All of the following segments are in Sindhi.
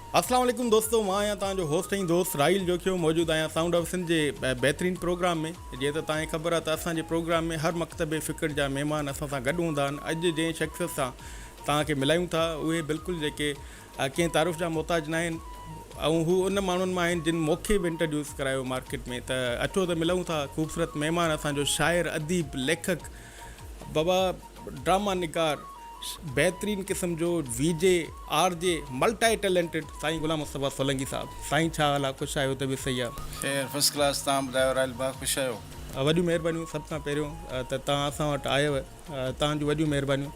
السلام عليڪم دوستو مان آهيان توهان جو هوسٽ ۽ دوست راحيل جوکيو موجود آهيان سائونڊ آف سنڌ جي بهترين پروگرام ۾ جيئن ته توهان کي خبر آهي ته اسان جي پروگرام ۾ هر مڪتب فڪر جا مهمان اسان سان گڏ هوندا آهن اڄ جنهن شخصيت سان توهان کي ملايون ٿا اهي بلڪل جيڪي ڪنهن تعارف جا محتاج ناهن ۽ هو ان ماڻهن مان آهن جن موکي به انٽروڊيوس ڪرايو مارڪيٽ ۾ ته اچو ته ملون ٿا خوبصورت مهمان اسان جو شاعر اديب ليکڪ بابا ڊراما نگار بهترين قسم جو V G R G multi talented سائين غلام مصطفيٰ سولنگي صاحب سائين ڇا حال آ خوش آهيو طبيعت صحيح آ. خير فرسٽ ڪلاس تان ٻڌايو راحيل ڀاء خوش آهيو. وڏيون مهربانيون سڀ کان پهريون ته توهان اسان وٽ آيو توهان جون وڏيون مهربانيون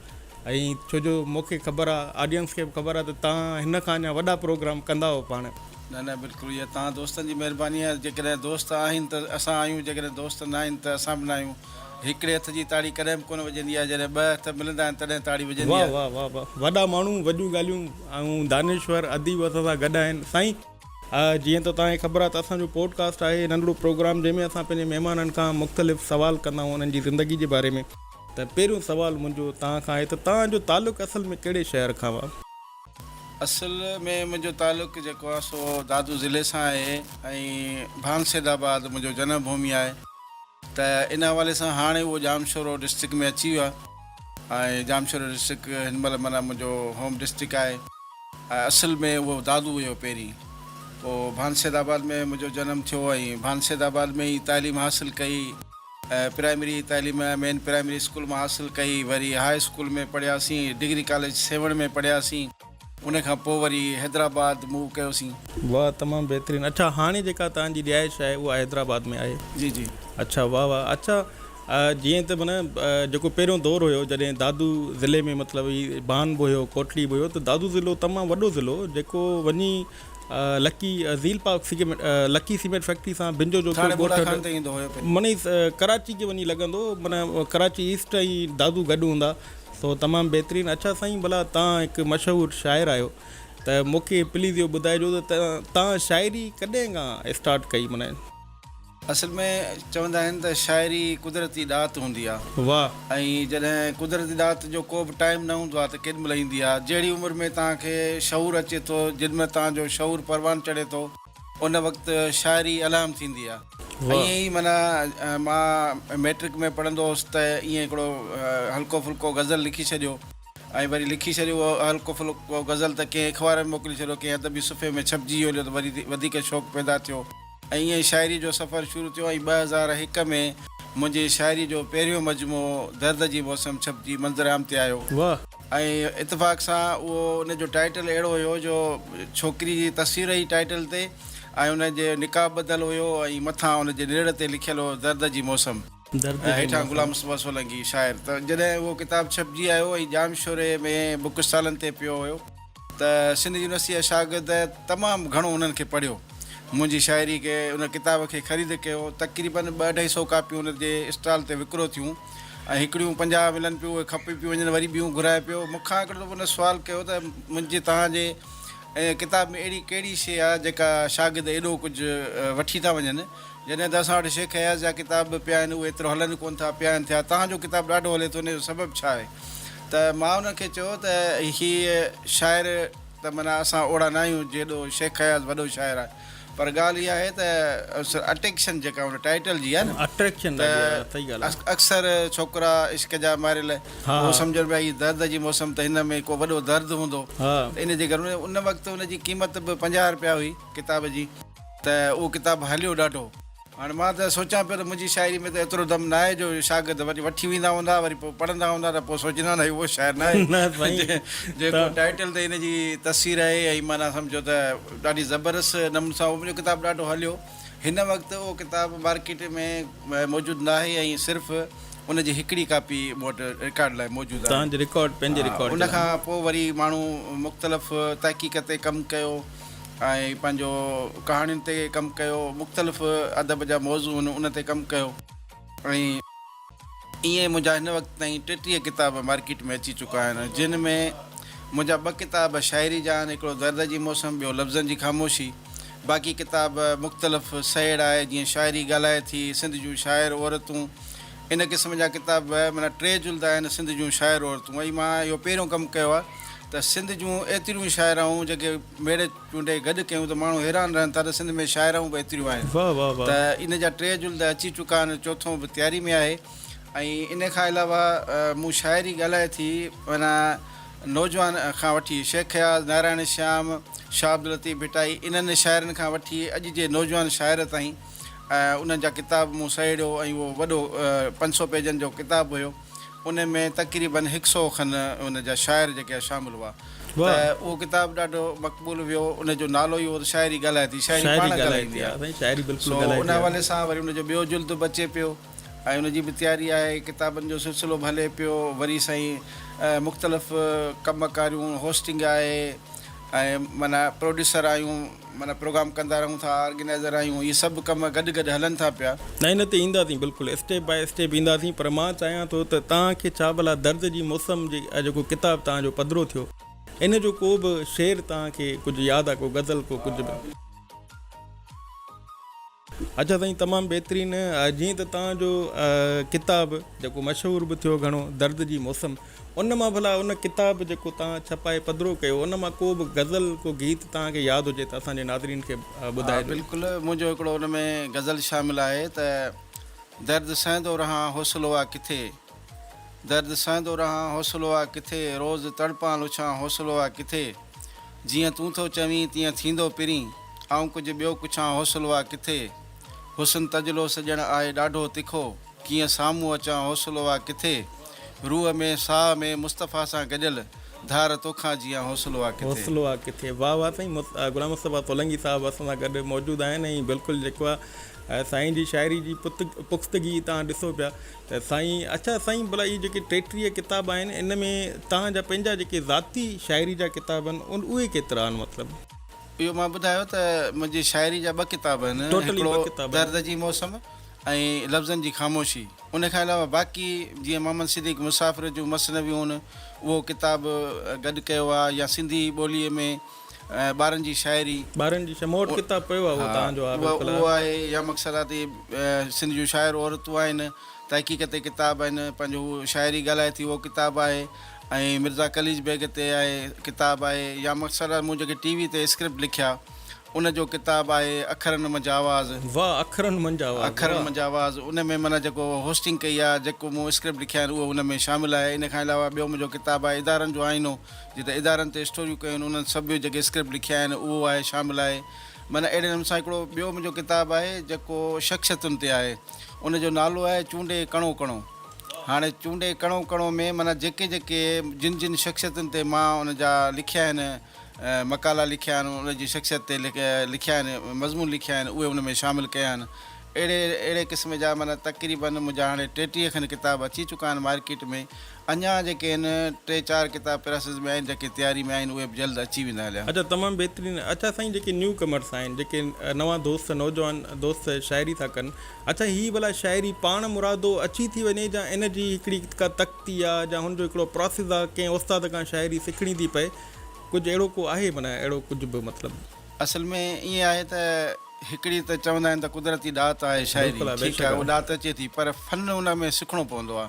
۽ ڇو جو مونکي خبر آ آڊينس کي به خبر آ ته توهان هن کان اڃا وڏا پروگرام ڪندا هئو پاڻ. نه نه بلڪل اها توهان دوستن جي مهرباني آهي جيڪڏهن دوست آهن ته اسان آهيون جيڪڏهن دوست ناهن ته اسان به ناهيون. هڪڙي هٿ جي تاڙي ڪڏهن به ڪونه وڄندي آهي جڏهن ٻه هٿ ملندا آهن تڏهن تاڙي وڄندي آهي. واه واه واه واه وڏا ماڻهو وڏيون ڳالهيون ۽ دانشور اديب اسان سان گڏ آهن سائين. جيئن ته توهان کي خبر آهي ته اسان جو پوڊ ڪاسٽ آهي ننڍڙو پروگرام جنهن ۾ اسان پنهنجي مهمانن کان مختلف سوال ڪندا آهيون انهن جي زندگي جي باري ۾ ته پهريون سوال منهنجو توهان کان آهي ته توهان جو تعلق اصل ۾ ڪهڙي شهر کان هو؟ اصل ۾ منهنجو تعلق جيڪو آهي سو دادو ضلعي سان آهي ۽ ڀان سيد آباد منهنجو جنم ڀومي آهي ته ان حوالي سان هاڻي اهو ڄامشورو ڊسٽرڪٽ ۾ اچي ويو آهي ۽ ڄامشورو ڊسٽرڪٽ هن مهل معنيٰ منهنجو هوم ڊسٽرڪٽ آهي ۽ اصل ۾ اهو دادو هيو پهرين پوء ڀان سيد آباد ۾ منهنجو جنم ٿيو ۽ ڀان سيد آباد ۾ ئي تعليم حاصل ڪئي. پرائمري تعليم مين پرائمري اسڪول مان حاصل ڪئي، وري هاء اسڪول ۾ پڙهياسين، ڊگري ڪاليج سيوهڻ ۾ پڙهياسين، ان کان پوء وري حيدرآباد موو ڪيوسين. واھ تمام بهترين اڇا هاڻي جيڪا توهان جي رهائش آهي اها حيدرآباد ۾ آهي. جي جي. اڇا واھ واھ اڇا جيئن ته معنيٰ جيڪو پهريون دور هيو جڏهن دادو ضلعي ۾ مطلب هي بان به هيو ڪوٽڙي به هيو ته دادو ضلعو تمام وڏو ضلعو هو جيڪو وڃي لڪي زيل Pak cement Lucky cement factory سان بنجو جو ٿاڻي بوڙا خان تي ايندو هيو پهرين. مني ڪراچي کي وڃي لڳندو هو مني ڪراچي ايسٽ ۽ دادو گڏ هوندا سو تمام بهترين اڇا سائين ڀلا تان هڪ مشهور شاعر آهيو ته مونکي پليز اهو ٻڌائجو ته تان شاعري ڪڏهن کان اسٽارٽ ڪئي مني اصل ۾ چوندا آهن ته شاعري قدرتي ڏات هوندي آ ۽ جڏهن قدرتي ڏات جو ڪو به ٽائيم نه هوندو آ ته ڪيڏي مهل ايندي آ جهڙي عمر ۾ توهان کي شعور اچي ٿو جن مهل توهان جو شعور پروان چڙهي ٿو ان وقت شاعري الهام ٿيندي آ ائين ئي معنيٰ مان ميٽرڪ ۾ پڙهندو هوس ته ائين هڪڙو هلڪو ڦلڪو غزل لکي ڇڏيو ۽ وري لکي ڇڏيو اهو هلڪو ڦلڪو غزل ته ڪنهن اخبار ۾ موڪلي ڇڏيو ڪنهن ادبي صفحي ۾ ڇپجي ويو هليو ته وري وڌيڪ شوق پيدا ٿيو. ۽ ائين شاعري جو سفر شروع ٿيو ۽ ٻه هزار هڪ ۾ منهنجي شاعري جو پهريون مجموعو درد جي موسم ڇپجي منظرعام تي آيو. واه. ۽ اتفاق سان اهو ان جو ٽائيٽل اهڙو هيو جو ڇوڪري جي تصوير هئي ٽائيٽل تي ۽ ان جو نقاب ٻڌل هيو ۽ مٿان ان جي نرڙ تي لکيل هو درد جي موسم. درد جون هيٺان غلام مصطفيٰ سولنگي شاعر ته جڏهن اهو ڪتاب ڇپجي آيو ۽ ڄام شوري ۾ بوڪ اسٽالن تي پيو هيو ته سنڌ يونيورسٽيء جا شاگرد تمام گهڻو انهن کي پڙهيو. منهنجي شاعري کي ان ڪتاب کي خريد ڪيو. تقريباً ٻه اڍائي سؤ ڪاپيون ان جي اسٽال تي وڪرو ٿيون ۽ هڪڙيون پنجاهه ملن پيون اهي کپي پيون وڃن وري ٻيون گهرائي پيو. مون کان هڪڙي دفعو ان سوال ڪيو ته منهنجي توهان جي ڪتاب ۾ اهڙي ڪهڙي شيء آ جيڪا شاگرد ايڏو ڪجهه وٺي ٿا وڃن جڏهن ته اسان وٽ شيخ اياز جا ڪتاب به پيا آهن اهي ايترو هلن ڪونه ٿا، پيا آهن ٿيا، توهان جو ڪتاب ڏاڍو هلي ٿو ان جو سبب ڇا آهي؟ ته مان انهن کي چيو ته هي شاعر ته معنيٰ اسان اوڙا نه آهيون جيڏو شيخ اياز وڏو شاعر آهي پر ڳالهه اها آهي ته اٽيڪشن جيڪا ان ٽائيٽل جي آهي نه ته اڪثر ڇوڪرا عشق جا ماريل اهو سمجهن پيا هي درد جي موسم ته هن ۾ ڪو وڏو درد هوندو ته ان جي ڪري ان وقت ان جي قيمت به پنجاهه رپيا هئي ڪتاب جي. ته اهو ڪتاب هليو ڏاڍو. هاڻي مان ته سوچيان پيو ته منهنجي شاعري ۾ ته ايترو دم ناهي جو شاگرد وڃي وٺي ويندا هوندا وري پوء پڙهندا هوندا ته پوء سوچيندا هوندا هي اهو شاعر ناهي جيڪو ٽائيٽل تي هن جي تصوير آهي ۽ معنيٰ سمجهو ته ڏاڍي زبردست نموني سان اهو منهنجو ڪتاب ڏاڍو هليو هن وقت اهو ڪتاب مارڪيٽ ۾ موجود ناهي ۽ صرف ان جي هڪڙي ڪاپي مون وٽ رڪارڊ لاء موجود آهي ان کان پوء وري ماڻهو مختلف تحقيق تي ڪم ڪيو ۽ پنهنجو ڪهاڻين تي ڪم ڪيو مختلف ادب جا موضوع هن ان تي ڪم ڪيو ۽ ائين منهنجا هن وقت تائين ٽيٽيهه ڪتاب مارڪيٽ ۾ اچي چڪا آهن جن ۾ منهنجا ٻه ڪتاب شاعري جا آهن هڪڙو درد جي موسم ٻيو لفظن جي خاموشي باقي ڪتاب مختلف سهيڙ آهي جيئن شاعري ڳالهائي ٿي سنڌ جون شاعر عورتون ان قسم جا ڪتاب به معنيٰ ٽي جلد آهن سنڌ جون شاعر عورتون ۽ مان اهو پهريون ڪم ڪيو آهي ته سنڌ جون ايتريون شاعرائون جيڪي ميڙي چونڊي گڏ ڪيون ته ماڻهو حيران رهن ٿا ته سنڌ ۾ شاعرائون به ايتريون آهن واه واه واه. ته ان جا ٽي جلد اچي چڪا آهن چوٿون به تياري ۾ آهي ۽ ان کان علاوه مون شاعري ڳالهائي ٿي معنيٰ نوجوان کان وٺي شيخ اياز، نارائڻ شيام، شاهه عبداللطيف ڀٽائي انهن شاعرن کان وٺي اڄ جي نوجوان شاعر تائين. ۽ انهن جا ڪتاب مون سهيڙيو ۽ اهو وڏو پنج سؤ پيجن جو ڪتاب هيو ان ۾ تقريبن هڪ سؤ کن ان جا شاعر جيڪي ها شامل هئا ته اهو ڪتاب ڏاڍو مقبول ويو ان جو نالو ئي هو ته شاعري ڳالهائي ٿي شاعري پاڻ ڳالهائي ٿي ها سائين شاعري بلڪل ڳالهائي ٿي سو ان حوالي سان وري ان جو ٻيو جلد به اچي پيو ۽ ان جي به تياري آهي ڪتابن جو سلسلو به هلي پيو وري سائين مختلف ڪم ڪاريون هوسٽنگ آهي ۽ معنيٰ پروڊيوسر آهيون معنيٰ پروگرام ڪندا رهون ٿا آرگنائيزر آهيون اهي سڀ ڪم گڏ گڏ هلن ٿا پيا. نه ان تي اينداسين بلڪل اسٽيپ باء اسٽيپ اينداسين پر مان چاهيان ٿو ته توهان کي ڇا ڀلا درد جي موسم جي جيڪو ڪتاب توهان جو پڌرو ٿيو ان جو ڪو به شعر توهان کي ڪجهه ياد آ ڪو غزل ڪو ڪجهه به. اچا سائين تمام بهترين جيئن ته توهان جو ڪتاب جيڪو مشهور به ٿيو گهڻو درد جي موسم ان مان ڀلا ان ڪتاب جيڪو توهان ڇپائي پڌرو ڪيو ان مان ڪو به غزل ڪو گيت توهان کي ياد هجي ته اسان جي ناظرين کي ٻڌائي ڏيو. بلڪل منهنجو هڪڙو ان ۾ غزل شامل آهي ته درد سهندو رهان حوصلو آ ڪٿي. درد سهندو رهان حوصلو آ ڪٿي، روز تڙپان لڇان حوصلو آ ڪٿي، جيئن تون ٿو چوين تيئن ٿيندو پرين، آئون ڪجهه ٻيو پڇان حوصلو آ ڪٿي، حسن تجلو سڄڻ آهي ڏاڍو تکو، ڪيئن سامهون اچان حوصلو آ ڪٿي، روح ۾ ساهه ۾ مصطفيٰ سان گڏيل، ڌار توکان جيئان حوصلو آ ڪٿي. حوصلو آ ڪٿي. واھ واھ سائين غلام مصطفيٰ سولنگي صاحب اسان سان گڏ موجود آهن ۽ بلڪل جيڪو آ سائين جي شاعري جي پختگي تهان ڏسو پيا ته سائين اڇا سائين ڀلا اهي جيڪي ٽيٽيهه ڪتاب آهن ان ۾ توهان جا پنهنجا جيڪي ذاتي شاعري جا ڪتاب آهن ان اهي ڪيترا آهن مطلب. اهو مان ٻڌايو ته منهنجي شاعري جا ٻه ڪتاب آهن ٽوٽلي ٻه هڪڙو ڪتاب آهن. درد جي موسم ۽ لفظن جي خاموشي ان کان علاوه باقي جيئن محمد صديق مسافر جون مثنويون اهو ڪتاب گڏ ڪيو آهي يا سنڌي ٻولي ۾ ٻارن جي شاعري. ٻارن جي شموٽ ڪتاب پيو آهي اهو توهان جو آهي بالڪل اهو آهي يا مقصد آهي ته سنڌ جون شاعر عورتون آهن تحقيق تي ڪتاب آهن پنهنجو هو شاعري ڳالهائي ٿي اهو ڪتاب آهي ۽ مرزا قليچ بيگ تي آهي ڪتاب آهي يا مقصد آهي مون جيڪي ٽي وي تي اسڪرپٽ لکيا ان جو ڪتاب آهي اکرن منجهه آواز. واهه اکرن منجهه آواز اکرن واهه. منجهه آواز ان ۾ معنيٰ جيڪو هوسٽنگ ڪئي آهي جيڪو مون اسڪرپٽ لکيا آهن اهو ان ۾ شامل آهي ان کان علاوه ٻيو منهنجو ڪتاب آهي ادارن جو آئينو. جتي ادارن تي اسٽوريون ڪيون آهن انهن سڀ جيڪي اسڪرپٽ لکيا آهن اهو آهي شامل آهي معنيٰ اهڙي نموني سان هڪڙو ٻيو منهنجو ڪتاب آهي جيڪو شخصيتن تي آهي ان جو نالو آهي چونڊي ڪڻو ڪڻو هاڻي چونڊي ڪڻو ڪڻو ۾ معنيٰ جيڪي جيڪي جن جن شخصيتن تي مان ان جا لکيا آهن مقالا لکيا آهن ان جي شخصيت تي لکيا آهن مضمون لکيا آهن اهي ان ۾ شامل ڪيا آهن اهڙي اهڙي قسم جا معنيٰ تقريبن منهنجا هاڻي ٽيٽيهه کن ڪتاب اچي چڪا آهن مارڪيٽ ۾ اڃا جيڪي هن ٽي چار ڪتاب پريسز ۾ آهن جيڪي تياري ۾ آهن اهي به جلد اچي ويندا هليا. اچا تمام بهترين اچا سائين جيڪي نيو ڪمرس آهن جيڪي نوان دوست نوجوان دوست شاعري ٿا ڪن اچا هي ڀلا شاعري پاڻ مرادو اچي ٿي وڃي جا ان جي هڪڙي ڪا تختي آ جا هن جو هڪڙو پراسز آ ڪنهن استاد کان شاعري سکڻي ٿي پئي ڪجهه اهڙو ڪو آهي معنيٰ اهڙو ڪجهه به مطلب. اصل ۾ ائين آهي ته هڪڙي ته چوندا آهن ته قدرتي ڏات آهي شاعري ٺيڪ آهي اها ڏات اچي ٿي پر فن ان ۾ سکڻو پوندو آ.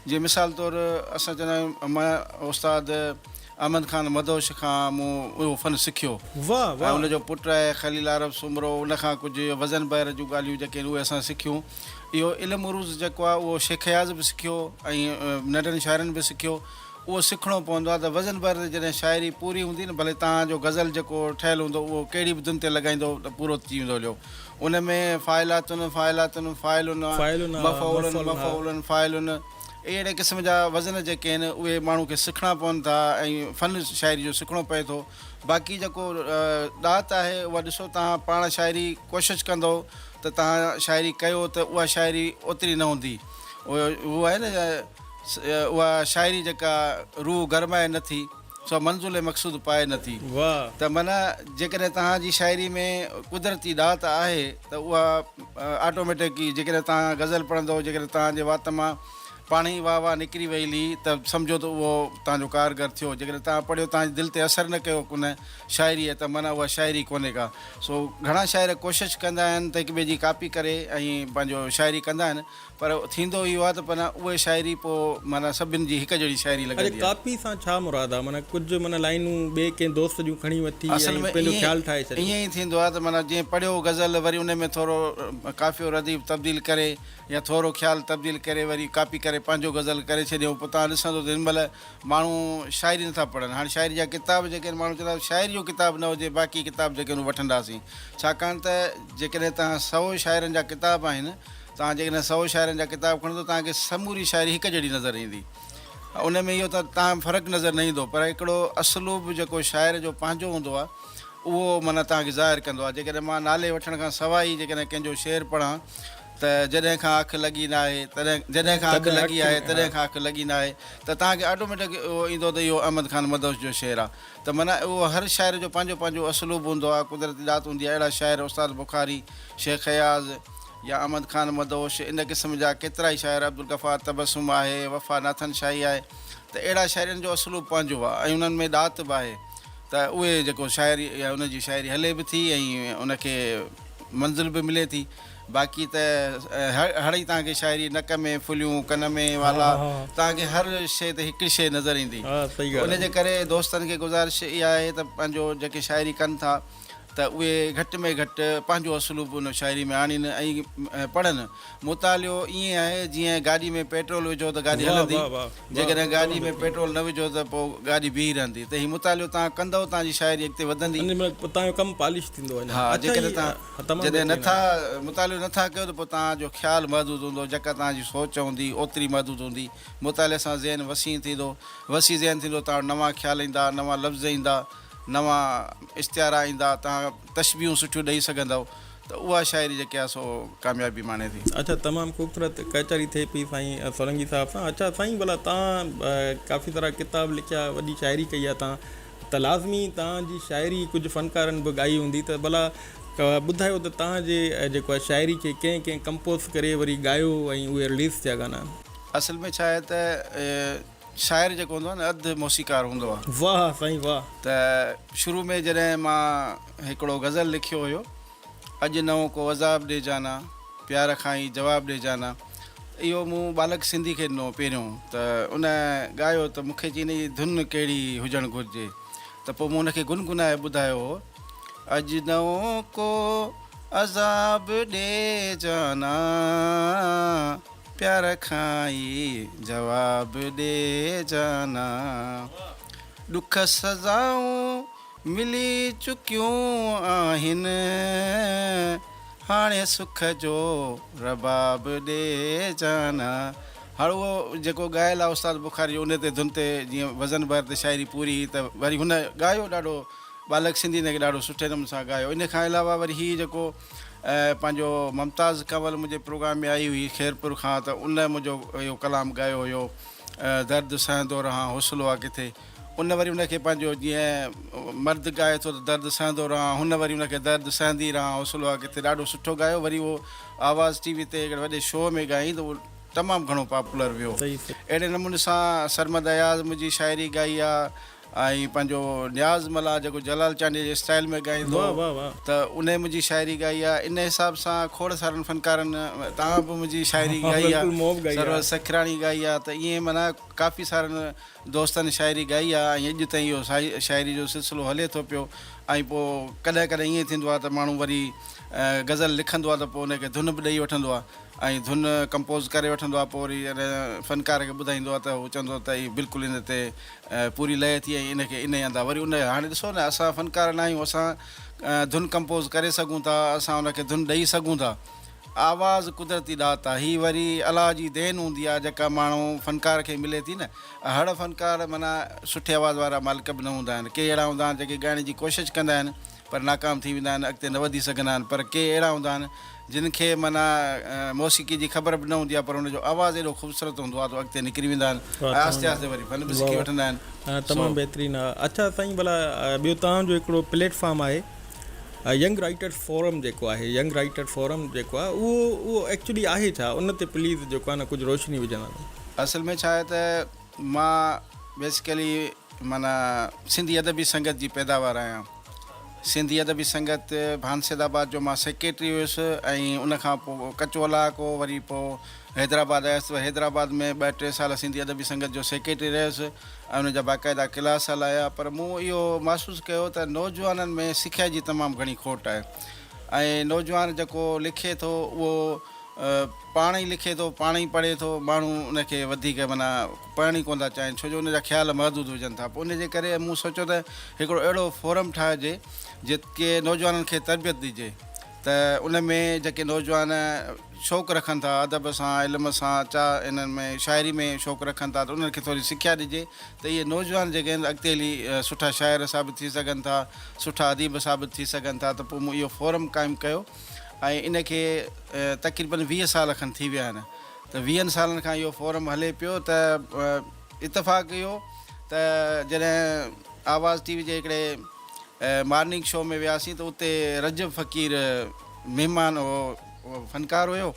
جيئن مثال طور اسان چوندا آهيون مان استاد احمد خان مدهوش کان مون اهو فن سکيو ۽ ان جو پٽ آهي خليل عرب سومرو ان کان ڪجهه وزن بحر جون ڳالهيون جيڪي آهن اهي اسان سکيون اهو علم عروض جيڪو آهي اهو شيخ اياز به سکيو ۽ ننڍن شاعرن به سکيو اهو سکڻو پوندو آهي ته وزن بحر تي جڏهن شاعري پوري هوندي نه ڀلي توهان جو غزل جيڪو ٺهيل هوندو اهو ڪهڙي به ڌن تي لڳائيندو ته پورو ٿي ويندو هليو ان ۾ فاعلاتن، فاعلاتن، فاعلن، فاعلنا، مفعولن، مفعولنا. مفعولن، فاعلن، اهڙي قسم جا وزن جيڪي آهن اهي ماڻهو کي سکڻا پون ٿا ۽ فن شاعري جو سکڻو پئي ٿو. باقي جيڪو ڏات آهي اها ڏسو توهان پاڻ شاعري ڪوشش ڪندو ته توهان شاعري ڪيو ته اها شاعري اوتري نه هوندي. اهو آهي نه اها شاعري جيڪا روح گرمائي نه ٿي. سو منزل مقصود پائي نه ٿي. ته معنيٰ جيڪڏهن توهان جي شاعري ۾ قدرتي ڏات آهي ته اها آٽوميٽڪ ئي جيڪڏهن توهان غزل پڙهندؤ جيڪڏهن توهان جي وات مان پاڻهي ئي واهه واهه نڪري ويلي ته سمجهو ته اهو توهان جو ڪارگر ٿيو جيڪڏهن توهان پڙهيو توهان جي دل تي اثر نه ڪيو ان شاعري ته معنيٰ اها شاعري ڪونهي ڪا سو گهڻا شاعر ڪوشش ڪندا آهن ته هڪ ٻئي جي ڪاپي ڪري ۽ پنهنجو شاعري ڪندا آهن پر ٿيندو اهو آهي ته معنيٰ اهي شاعري پوء معنيٰ سڀن جي هڪ جهڙي شاعري لڳندي آهي. اڄ ڪاپي سان ڇا مراد آهي؟ معنيٰ ڪجهه معنيٰ لائنون ٻئي ڪنهن دوست جون کڻي وٺي ۽ پنهنجو خيال ٺاهي ڇڏيو. اصل ۾ ائين ئي ٿيندو آهي ته معنيٰ جيئن پڙهيو غزل وري ان ۾ ٿورو قافيو رديف تبديل ڪري يا ٿورو خيال تبديل ڪري وري ڪاپي ڪري پنهنجو غزل ڪري ڇڏيائون پوء توهان ڏسندو ته هن مهل ماڻهو شاعري نه ٿا پڙهن هاڻي شاعري جا ڪتاب جيڪي آهن ماڻهو چوندا آهن شاعري جو ڪتاب نه هجي باقي ڪتاب جيڪي آهن اهي وٺنداسين ڇاڪاڻ ته جيڪڏهن توهان سؤ شاعرن جا ڪتاب آهن توهان جيڪڏهن سؤ شاعرن جا ڪتاب کڻندا توهان کي سموري شاعري هڪ جهڙي نظر ايندي ان ۾ اهو تاهم فرق نظر نه ايندو پر هڪڙو اسلوب جيڪو شاعر جو پنهنجو هوندو آهي اهو معنيٰ توهان کي ظاهر ڪندو آهي جيڪڏهن مان نالي وٺڻ کان سواء ئي جيڪڏهن ڪنهن جو شعر پڙهان ته جڏهن کان اک لڳي ناهي تڏهن جڏهن کان اک لڳي آهي تڏهن کان اک لڳي ناهي ته توهان کي آٽوميٽڪ اهو ايندو ته اهو احمد خان مدهوش جو شعر آهي ته معنيٰ اهو هر شاعر جو پنهنجو پنهنجو اسلوب هوندو آهي قدرتي ڏات هوندي آهي اهڙا شاعر استاد بخاري شيخ اياز يا احمد خان مدهوش، ان قسم جا ڪيترائي شاعر، عبدالغفار تبسم آهي، وفا ناٿن شاهي آهي ته اهڙا شاعرن جو اسلوب پنهنجو آهي ۽ انهن ۾ ڏات به آهي ته اهي جيڪو شاعري يا ان جي شاعري هلي به ٿي ۽ ان کي منزل به ملي ٿي باقي ته هڙ ئي توهان کي شاعري نڪ ۾ ڦليون ڪن ۾ والا توهان کي هر شيء تي هڪ ئي شيء نظر ايندي ته ان جي ڪري دوستن کي گذارش اها آهي ته پنهنجو جيڪي شاعري ڪن ٿا ته اهي گهٽ ۾ گهٽ پنهنجو اسلوب ان شاعري ۾ آڻين ۽ پڙهن. مطالعو ائين آهي جيئن گاڏي ۾ پيٽرول وجهو ته گاڏي هلندي، جيڪڏهن گاڏي ۾ پيٽرول نه وجهو ته پوء گاڏي بيهي رهندي. ته هي مطالعو توهان ڪندؤ توهان جي شاعري اڳتي وڌندي. ها جيڪڏهن توهان جڏهن نه ٿا مطالعو نه ٿا ڪيو ته پوء توهان جو خيال محدود هوندو، جيڪا توهان جي سوچ هوندي اوتري محدود هوندي. مطالعي سان ذهن وسيع ٿيندو، وسيع ذهن ٿيندو توهان وٽ نوان خيال ايندا، نوان لفظ ايندا. نوان اشتهارا ايندا، توهان تشبيهون سٺيون ڏئي سگهندؤ ته اها شاعري جيڪي آهي سو ڪاميابي ماڻي ٿي. اچا تمام خوبصورت ڪچهري ٿئي پئي سائين سولنگي صاحب سان. اچا سائين ڀلا تان ڪافي سارا ڪتاب لکيا وڏي شاعري ڪئي آ تان ته لازمي تان جي شاعري ڪجهه فنڪارن به ڳائي هوندي ته ڀلا ٻڌايو ته تان جي جيڪو آ شاعري کي ڪنهن ڪنهن ڪمپوز ڪري وري ڳايو ۽ اهي رليز ٿيا گانا. اصل ۾ ڇا آهي ته شاعر جيڪو هوندو آهي نه اڌ موسيقار هوندو آهي. واھ سائين واھ. ته شروع ۾ جڏهن مان هڪڙو غزل لکيو هيو اڄ نئون ڪو عذاب ڏي جانا پيار کان ئي جواب ڏي جانا اهو مون ٻالڪ سنڌي کي ڏنو پهريون ته ان ڳايو ته مونکي چي ان جي ڌن ڪهڙي هجڻ گهرجي ته پوء مون ان کي گنگنائي ٻڌايو هو اڄ نئون ڪو عذاب ڏي جانا. پيار کان ئي جواب ڏي جانا. ڏک سزائون ملي چڪيون آهن. هاڻي سک جو رباب ڏي جانا. هاڻ اهو جيڪو ڳايل آهي استاد بخاري جو ان تي ڌن تي جيئن وزن بحر تي شاعري پوري هئي ته وري هن ڳايو ڏاڍو ٻالڪ سنڌي هن کي ڏاڍو سٺي نموني سان ڳايو ان کان علاوه وري هي جيڪو پنهنجو ممتاز ڪنول منهنجي پروگرام ۾ آئي هئي خيرپور کان ته ان منهنجو اهو ڪلام ڳايو هيو درد سهندو رهان حوصلو آ ڪٿي ان وري ان کي پنهنجو جيئن مرد ڳائي ٿو ته درد سهندو رهان هن وري ان کي درد سهندي رهان حوصلو آ ڪٿي ڏاڍو سٺو ڳايو وري اهو آواز ٽي وي تي هڪڙي وڏي شو ۾ ڳايائين ته اهو تمام گهڻو پاپولر ويو اهڙي نموني سان سرمد اياز منهنجي شاعري ڳائي آ ۽ پنهنجو نياز ملاح جيڪو جلال چانڊيي جي اسٽائيل ۾ ڳائيندو هو ته انهي منهنجي شاعري ڳائي آهي ان حساب سان کوڙ سارن فنڪارن توهان به منهنجي شاعري ڳائي آهي سرور سکراڻي ڳائي آهي ته ائين معنيٰ ڪافي سارن دوستن شاعري ڳائي آهي ۽ اڄ تائين اهو شاعري جو سلسلو هلي ٿو پيو ۽ پوء ڪڏهن ڪڏهن ائين ٿيندو آهي ته ماڻهو وري غزل لکندو آهي ته پوء ان کي ڌن به ڏئي وٺندو آهي ۽ ڌن ڪمپوز ڪري وٺندو آهي پوء وري فنڪار کي ٻڌائيندو آهي ته هو چوندو آهي ته هي بلڪل ان تي پوري لئه ٿي ۽ ان کي انهي هندا وري ان هاڻي ڏسو نه اسان فنڪار ناهيون اسان ڌن ڪمپوز ڪري سگهون ٿا اسان ان کي ڌن ڏئي سگهون ٿا آواز قدرتي ڏات آ هي وري الله جي دين هوندي آ جيڪا ماڻهو فنڪار کي ملي ٿي نه اهڙ فنڪار معنيٰ سٺي آواز وارا مالڪ به نه هوندا آهن ڪي اهڙا هوندا آهن جيڪي ڳائڻ جي ڪوشش ڪندا آهن پر ناڪام ٿي ويندا آهن اڳتي نه وڌي سگهندا آهن پر ڪي اهڙا هوندا آهن جن کي معنيٰ موسيقي جي خبر به نه هوندي آهي پر ان جو آواز ايڏو خوبصورت هوندو آهي تو اڳتي نڪري ويندا آهن ۽ آهستي آهستي وري فن به سکي وٺندا آهن تمام بهترين ها اڇا سائين ڀلا ٻيو توهان جو هڪڙو پليٽ فارم آهي ينگ رائٽرس فورم جيڪو آهي ينگ رائٽر فورم جيڪو آهي اهو اهو ايڪچولي آهي ڇا ان تي پليز جيڪو آهي نه ڪجهه روشني وجهندا اصل ۾ ڇا آهي ته مان بيسڪلي معنيٰ سنڌي ادبي سنگت جي پيداوار آهيان. سنڌي ادبي سنگت ڀانسيد آباد جو مان سيڪريٽري هيس ۽ ان کان پو ڪچو علائقو وري پو حيدرآباد آيس ته حيدرآباد ۾ ٻه ٽي سال سنڌي ادبي سنگت جو سيڪريٽري رهيس ۽ ان جا باقاعده ڪلاس هلايا پر مون اهو محسوس ڪيو ته نوجوانن ۾ سکيا جي تمام گهڻي کوٽ آهي ۽ نوجوان جيڪو لکي ٿو اهو پاڻ ئي لکي ٿو پاڻ ئي پڙهي ٿو ماڻهو ان کي وڌيڪ معنيٰ پڙهڻ ئي ڪونه ٿا چاهين ڇو جو ان جا خيال محدود هجن ٿا پوء ان جي ڪري مون سوچيو ته هڪڙو اهڙو فورم ٺاهجي جتي نوجوانن کي تربيت ڏجي ته ان ۾ جيڪي نوجوان شوق رکن ٿا ادب سان علم سان چا انهن ۾ شاعري ۾ شوق رکن ٿا ته انهن کي ٿوري سکيا ڏجي ته اهي نوجوان جيڪي آهن اڳتي هلي سٺا شاعر ثابت ٿي سگهن ٿا سٺا اديب ثابت ٿي سگهن ٿا ته پوء مون اهو فورم قائم ڪيو ۽ ان کي تقريبن ويهه سال کن ٿي ويا آهن ته ويهن سالن کان اهو فورم هلي پيو ته اتفاق اهو ته جڏهن آواز ٽي وي جي هڪڙي مارننگ شو ۾ وياسين ته اتي رجب فقير مهمان هو اهو فنڪار هيو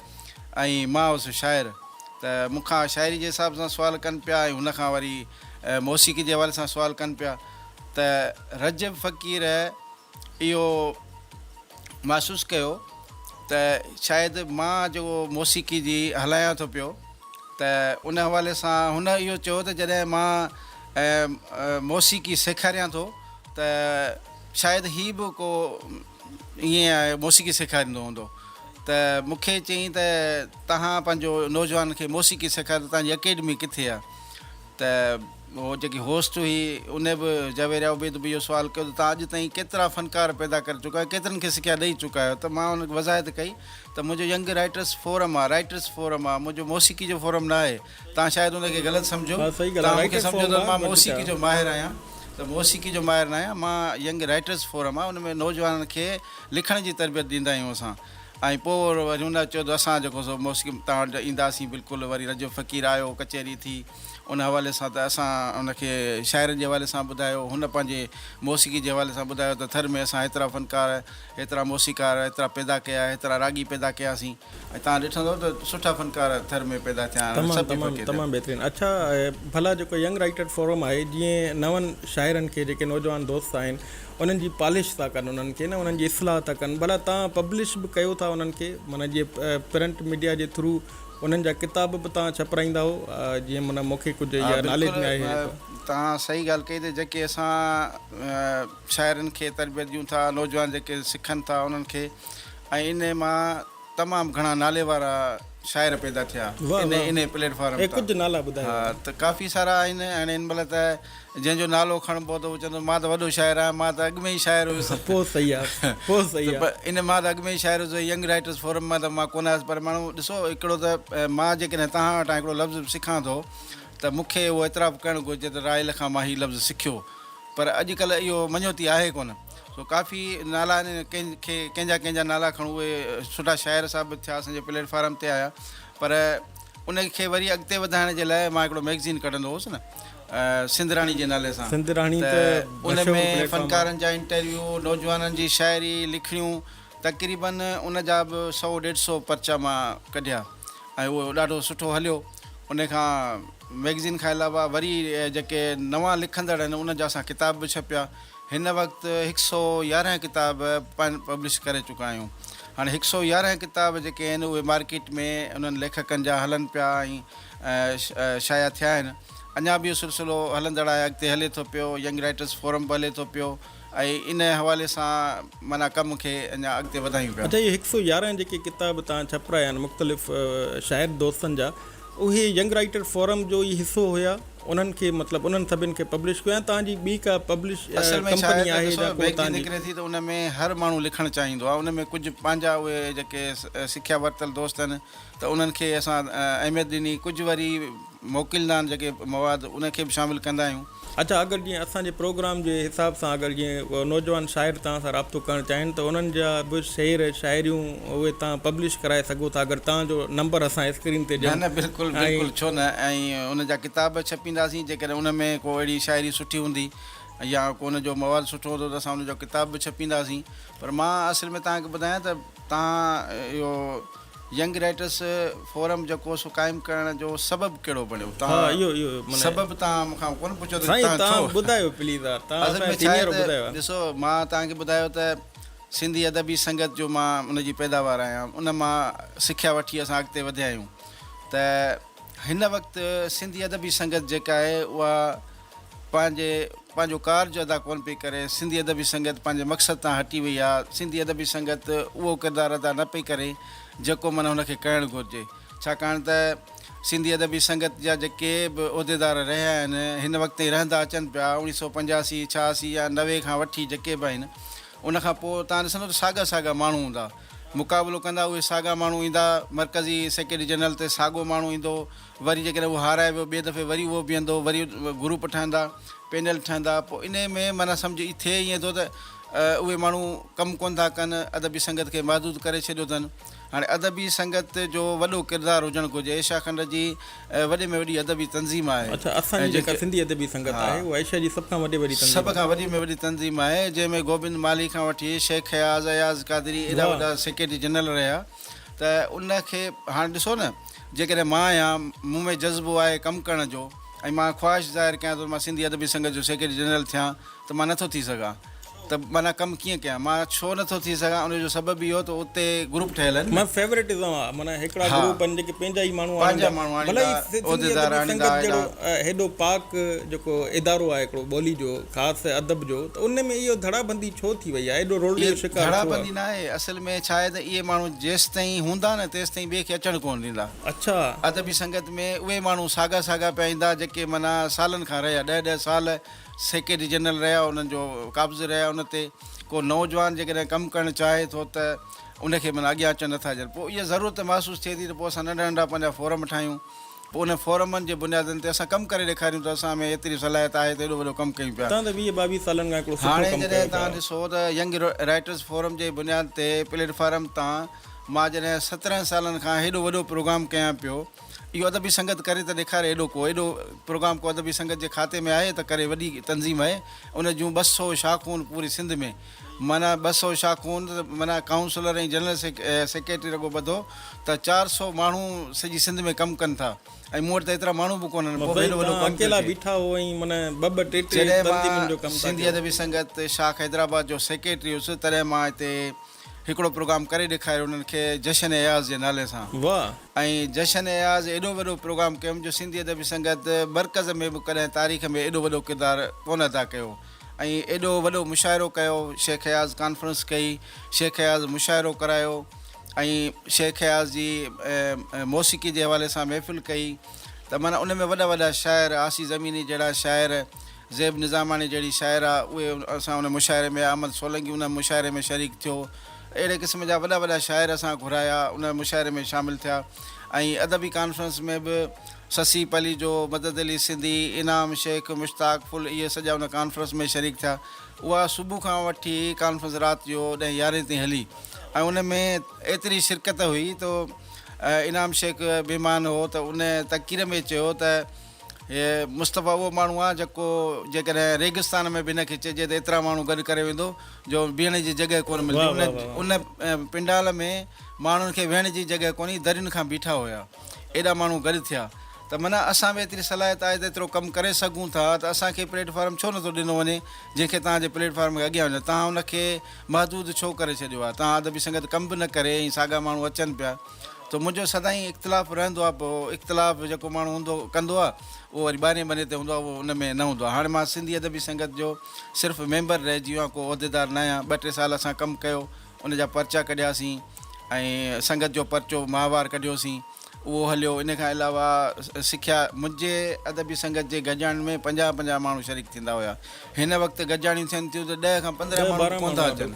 ۽ مان هوس شاعر ته مون کان شاعري جي حساب سان سوال ڪن پيا ۽ هن کان وري موسيقي جي حوالي سان سوال ڪن پيا ته رجب فقير اهو محسوس ڪيو ته شايد مان جيڪو موسيقي جي هلايان ٿو پيو ته ان حوالي سان هن اهو چيو ته جڏهن مان موسيقي سيکاريان ٿو ته شايد هي به ڪو ائين موسيقي سيکاريندو هوندو ته مون کي چيائين ته توهان پنهنجو نوجوانن کي موسيقي سيکاريو ته توهان جي اڪيڊمي ڪٿي آهي؟ ته هو جيڪي هوسٽ هئي ان به جويريا عبيد به اهو سوال ڪيو ته توهان اڄ تائين ڪيترا فنڪار پيدا ڪري چڪا آهيو ڪيترن کي سکيا ڏئي چڪا آهيو ته مان ان کي وضاحت ڪئي ته منهنجو ينگ رائٽرس فورم آهي رائٽرس فورم آهي منهنجو موسيقي جو فورم نه آهي توهان شايد ان کي غلط سمجهو توهان مون کي سمجهو ته مان موسيقي جو ماهر آهيان ته موسيقي جو ماهر نه آهيان مان ينگ رائٽرس فورم آهي ان ۾ نوجوانن کي لکڻ جي تربيت ڏيندا آهيون اسان ۽ پوء وري هن چيو ته اسان جيڪو سو موسيقي توهان وٽ اينداسين بلڪل وري رجب فقير آيو ڪچهري ٿي ان حوالي سان ته اسان ان کي شاعرن جي حوالي سان ٻڌايو هن پنهنجي موسيقي جي حوالي سان ٻڌايو ته ٿر ۾ اسان هيترا فنڪار هيترا موسيقار هيترا پيدا ڪيا هيترا راڳي پيدا ڪياسين ۽ توهان ڏٺندو ته سٺا فنڪار ٿر ۾ پيدا ٿيا آهن سڀ ئي فقير تمام بهترين اڇا ڀلا جيڪو ينگ رائيٽر فورم آهي جيئن نون شاعرن کي جيڪي نوجوان دوست آهن انهن جي پالش ٿا ڪن انهن کي نه انهن جي اصلاح ٿا ڪن ڀلا تان پبلش به ڪيو ٿا انهن کي معنيٰ جي پرنٽ ميڊيا جي ٿرو انهن جا ڪتاب به تان ڇپرائيندا هو جيئن معنيٰ مون کي ڪجهه اها ناليج ۾ آهي تان صحيح ڳالهه ڪئي ته جيڪي اسان شاعرن کي تربيت ڏيون ٿا نوجوان جيڪي سکن ٿا انهن کي ۽ ان مان تمام گهڻا نالي وارا شاعر پيدا ٿيا ان پليٽ فارم ڪجهه نالا ٻڌايو ته ڪافي سارا آهن هاڻي هن مهل ته جنهن جو نالو کڻبو ته هو چوندو مان ته وڏو شاعر آهيان، مان ته اڳ ۾ ئي شاعر هيس. پوء صحيح آ، پوء صحيح آ. ان مان ته اڳ ۾ ئي شاعر هيس، ينگ رائيٽرس فورم مان ته مان ڪونه آيس، پر ماڻهو ڏسو هڪڙو ته مان جيڪڏهن توهان وٽان هڪڙو لفظ به سکان ٿو ته مون کي اهو اعتراف ڪرڻ گهرجي ته راحيل کان مان هي لفظ سکيو، پر اڄ ڪلهه اهو مڃوتي آهي ڪونه. سو ڪافي نالا آهن ڪن کي ڪنهن جا ڪنهن جا نالا کڻون اهي سٺا شاعر ثابت ٿيا اسان جي پليٽ فارم تي آيا، پر ان کي وري اڳتي وڌائڻ جي لاء مان هڪڙو مئگزين ڪڍندو هوس نه. سنڌ راڻي جي نالي سان سنڌ راڻي ته ان ۾ فنڪارن جا انٽرويو، نوجوانن جي شاعري، لکڻيون تقريباً ان جا به سؤ ڏيڍ سؤ پرچا مان ڪڍيا ۽ اهو ڏاڍو سٺو هليو. ان کان مئگزين کان علاوه وري جيڪي نوان لکندڙ آهن ان جا اسان ڪتاب به ڇپيا. هن وقت هڪ سؤ يارهن ڪتاب پن پبلش ڪري چڪا آهيون. هاڻي هڪ سؤ يارهن ڪتاب جيڪي آهن اهي مارڪيٽ ۾ انهن ليکڪن جا هلن پيا ۽ شايع ٿيا آهن. اڃا به اهو سلسلو هلندڙ آهي اڳتي هلي ٿو پيو ينگ رائيٽرس فورم به هلي ٿو پيو ۽ ان حوالي سان معنيٰ ڪم کي اڃا اڳتي وڌايون پيا. اچا اهي هڪ سؤ يارهن جيڪي ڪتاب تان ڇپرايا آهن مختلف شاعر دوستن جا اهي ينگ رائيٽر فورم جو ئي حصو هيا انهن کي مطلب انهن سڀن کي پبلش ڪيو يا توهان جي ٻي ڪا پبلش اصل ۾ ڇا آهي ته ڏسو ميگزين نڪري ٿي ته ان ۾ هر ماڻهو لکڻ چاهيندو آهي ان ۾ ڪجهه پنهنجا اهي جيڪي سکيا ورتل دوست آهن ته انهن کي اسان اهميت ڏني ڪجهه وري موڪليندا آهن جيڪي مواد ان کي به شامل ڪندا آهيون. اچا اگر جيئن اسان جي پروگرام جي حساب سان اگر جيئن نوجوان شاعر توهان سان رابطو ڪرڻ چاهين ته انهن جا به شعر شاعريون اهي توهان پبلش ڪرائي سگهو ٿا اگر توهان جو نمبر اسان اسڪرين تي ڏيون نه نه بلڪل بلڪل ڇو نه ۽ ان جا ڪتاب به ڇپينداسين جيڪڏهن ان ۾ ڪو اهڙي شاعري سٺي هوندي يا ڪو ان جو مواد سٺو هوندو ته اسان ان جو ڪتاب به ڇپينداسين پر مان اصل ۾ توهان کي ٻڌايان ته توهان اهو ينگ رائٽرس فورم جيڪو سو قائم ڪرڻ جو سبب ڪهڙو بڻيو تهان سبب تهان مون کان ڪونه پڇيو ته تهان ڇو ٻڌايو پليز يار تهان اصل ۾ ڇا آهي ته ڏسو مان تهان کي ٻڌايو ته سنڌي ادبي سنگت جو مان ان جي پيداوار آهيان ان مان سکيا وٺي اسان اڳتي وڌيا آهيون ته هن وقت سنڌي ادبي سنگت جيڪا آهي اها پنهنجي پنهنجو ڪارج ادا ڪونه پئي ڪري، سنڌي ادبي سنگت پنهنجي مقصد تان هٽي وئي آ، سنڌي ادبي سنگت اهو ڪردار ادا نه پئي ڪري جيڪو من هن کي ڪرڻ گهرجي ڇاڪاڻ ته سنڌي ادبي سنگت جا جيڪي به عهديدار رهيا آهن هن وقت تائين رهندا اچن پيا اوڻيهه سؤ پنجاسي ڇهاسي يا نوي کان وٺي جيڪي به آهن ان کان پوء توهان ڏسندو ته ساڳا ساڳا ماڻهو هوندا مقابلو ڪندا اهي ساڳا ماڻهو ايندا مرڪزي سيڪريٽري جنرل تي ساڳو ماڻهو ايندو وري جيڪڏهن اهو هارائي ويو ٻئي دفعي وري اهو بيهندو وري گروپ ٺهندا پينل ٺهندا پوء انهي ۾ معنيٰ سمجهه اهي ٿئي ائين ٿو ته اهي ماڻهو ڪم ڪونه ٿا ڪن ادبي سنگت کي محدود ڪري ڇڏيو اٿن هاڻي ادبي سنگت جو وڏو ڪردار هجڻ گهرجي ايشيا کنڊ جي وڏي ۾ وڏي ادبي تنظيم آهي اڇا اسان جي جيڪا سنڌي ادبي سنگت آهي اها ايشيا جي سڀ کان وڏي وڏي تنظيم سڀ کان وڏي ۾ وڏي تنظيم آهي جنهن ۾ گوبند مالهي کان وٺي شيخ اياز اياز قادري ايڏا وڏا سيڪريٽري جنرل رهيا. ته ان کي هاڻ ڏسو نه جيڪڏهن مان آهيان مون ۾ جذبو آهي ڪم ڪرڻ جو ۽ مان خواهش ظاهر ڪيان ته مان سنڌي ادبي سنگت جو سيڪريٽري جنرل ٿيان ته مان نٿو ٿي سگهان ته معنيٰ ڪم ڪيئن ڪيان مان ڇو نٿو ٿي سگهان ان جو سبب اهو ته اتي گروپ ٺهيل آهن نه فيورٽزم آهي معنيٰ هڪڙا گروپ آهن جيڪي پنهنجا ئي ماڻهو آڻيندا ڀلي ئي سنڌي ادبي سنگت جهڙو هيڏو پاڪ جيڪو ادارو آهي هڪڙو ٻولي جو خاص ته ادب جو ته ان ۾ اهو ڌڙا بندي ڇو ٿي وئي آهي، ايڏو رولي جو شڪار ڇو آهي؟ ڌڙا بندي نه آهي، اصل ۾ ڇا آهي ته اهي ماڻهو جيستائين هوندا نه تيستائين ٻئي کي اچڻ ڪونه ڏيندا. اڇا. ادبي سنگت ۾ اهي ماڻهو ساڳا ساڳا پيا ايندا جيڪي معنيٰ سالن کان رهيا، ڏهه ڏهه سال سيڪريٽري جنرل رهيا، انهن جو قابض رهيا ان تي، ڪو نوجوان جيڪڏهن ڪم ڪرڻ چاهي ٿو ته ان کي معنيٰ اڳيان اچڻ نه ٿا ڏين، پوء اها ضرورت محسوس ٿئي ٿي ته پوء اسان ننڍا ننڍا پنهنجا فورم ٺاهيون، پوء انهن فورمن جي بنيادن تي اسان ڪم ڪري ڏيکاريون ته اسان ۾ ايتري صلاحيت آهي ته ايڏو وڏو ڪم ڪيون پيا. توهان ته ويهه ٻاويهه سالن کان هڪڙو سٺو ڪم ڪيو پيا. هاڻي جڏهن توهان ڏسو ته ينگ رائيٽرز فورم جي بنياد تي پليٽ فارم تان مان جڏهن سترهن سالن کان هيڏو وڏو پروگرام ڪيان پيو اهو ادبي سنگت ڪري ته ڏيکاري ايڏو ڪو ايڏو پروگرام ڪو ادبي سنگت جي کاتي ۾ آهي ته ڪري وڏي تنظيم آهي ان جون ٻه سو شاخون پوري سنڌ ۾ معنيٰ ٻه سؤ شاخون ته معنيٰ ڪائونسلر ۽ جنرل سيڪريٽري رڳو ٻڌو ته چار سؤ ماڻهو سڄي سنڌ ۾ ڪم ڪن ٿا ۽ مون وٽ ته ايترا ماڻهو به ڪونهن پوء به ايڏو وڏو ڪم پيو ٿئي. جڏهن مان سنڌي ادبي سنگت شاخ حيدرآباد جو سيڪريٽري هوس تڏهن مان هتي هڪڙو پروگرام ڪري ڏيکاريو انهن کي جشن اياز جي نالي سان ۽ جشن اياز ايڏو وڏو پروگرام ڪيم جو سنڌي ادبي سنگت مرڪز ۾ به ڪڏهن تاريخ ۾ ايڏو وڏو ڪردار ڪونه ادا ڪيو. ۽ ايڏو وڏو مشاعرو ڪيو، شيخ اياز ڪانفرنس ڪئي، شيخ اياز مشاعرو ڪرايو ۽ شيخ اياز جي موسيقي جي حوالي سان محفل ڪئي ته معنيٰ ان ۾ وڏا وڏا شاعر عاصي زميني جهڙا شاعر، زيب نظاماڻي جهڙي شاعره اهي اسان ان مشاعري ۾ احمد سولنگي ان مشاعري ۾ شريڪ ٿيو اهڙي قسم جا وڏا وڏا شاعر اسان گهرايا ان مشاعري ۾ شامل ٿيا ۽ ادبي ڪانفرنس ۾ به سسي پليجو، مدد علي سنڌي، انعام شيخ، مشتاق ڦل اهي سڄا ان ڪانفرنس ۾ شريڪ ٿيا. اها صبح کان وٺي ڪانفرنس رات جو ڏهين يارهين تائين هلي ۽ ان ۾ ايتري شرڪت هئي تو انعام شيخ مهمان هو ته ان تقرير ۾ چيو ته هي مصطفي اهو ماڻهو آ جيڪو جيڪڏهن ريگستان ۾ به هن کي چئجي ته ايترا ماڻهو گڏ ڪري ويندو جو بيهڻ جي جڳهه ڪونه ملندي ان پنڊال ۾ ماڻهن کي ويهڻ جي جڳهه ڪونهي درين کان بيٺا هيا. ايڏا ماڻهو گڏ ٿيا ته منان اسان ۾ ايتري صلاحيت آهي ته ايترو ڪم ڪري سگهون ٿا ته اسان کي پليٽ فارم ڇو نٿو ڏنو وڃي جنهن کي توهان جي پليٽ فارم کي اڳيان وڃڻ توهان ان کي محدود ڇو ڪري ڇڏيو آهي توهان ادبي سنگت ڪم به نه ڪري ۽ ساڳا ماڻهو اچن پيا ته منهنجو سدائين اختلاف رهندو آهي پوء اختلاف جيڪو ماڻهو هوندو ڪندو آهي اهو وري ٻاهرين بني تي هوندو آهي اهو ان ۾ نه هوندو آهي هاڻي مان سنڌي ادبي سنگت جو صرف ميمبر رهجي ويو آهيان ڪو عهديدار نه آهيان ٻه ٽي سال اسان ڪم ڪيو ان جا پرچا ڪڍياسين ۽ سنگت جو پرچو ماهوار ڪڍيوسين، اهو هليو. ان کان علاوه سکيا منهنجي ادبي سنگت جي گڏجاڻين ۾ پنجاهه پنجاهه ماڻهو شريڪ ٿيندا هيا. هن وقت گڏجاڻيون ٿين ٿيون ته ڏهه کان پندرهن ماڻهو به ڪونه ٿا اچن.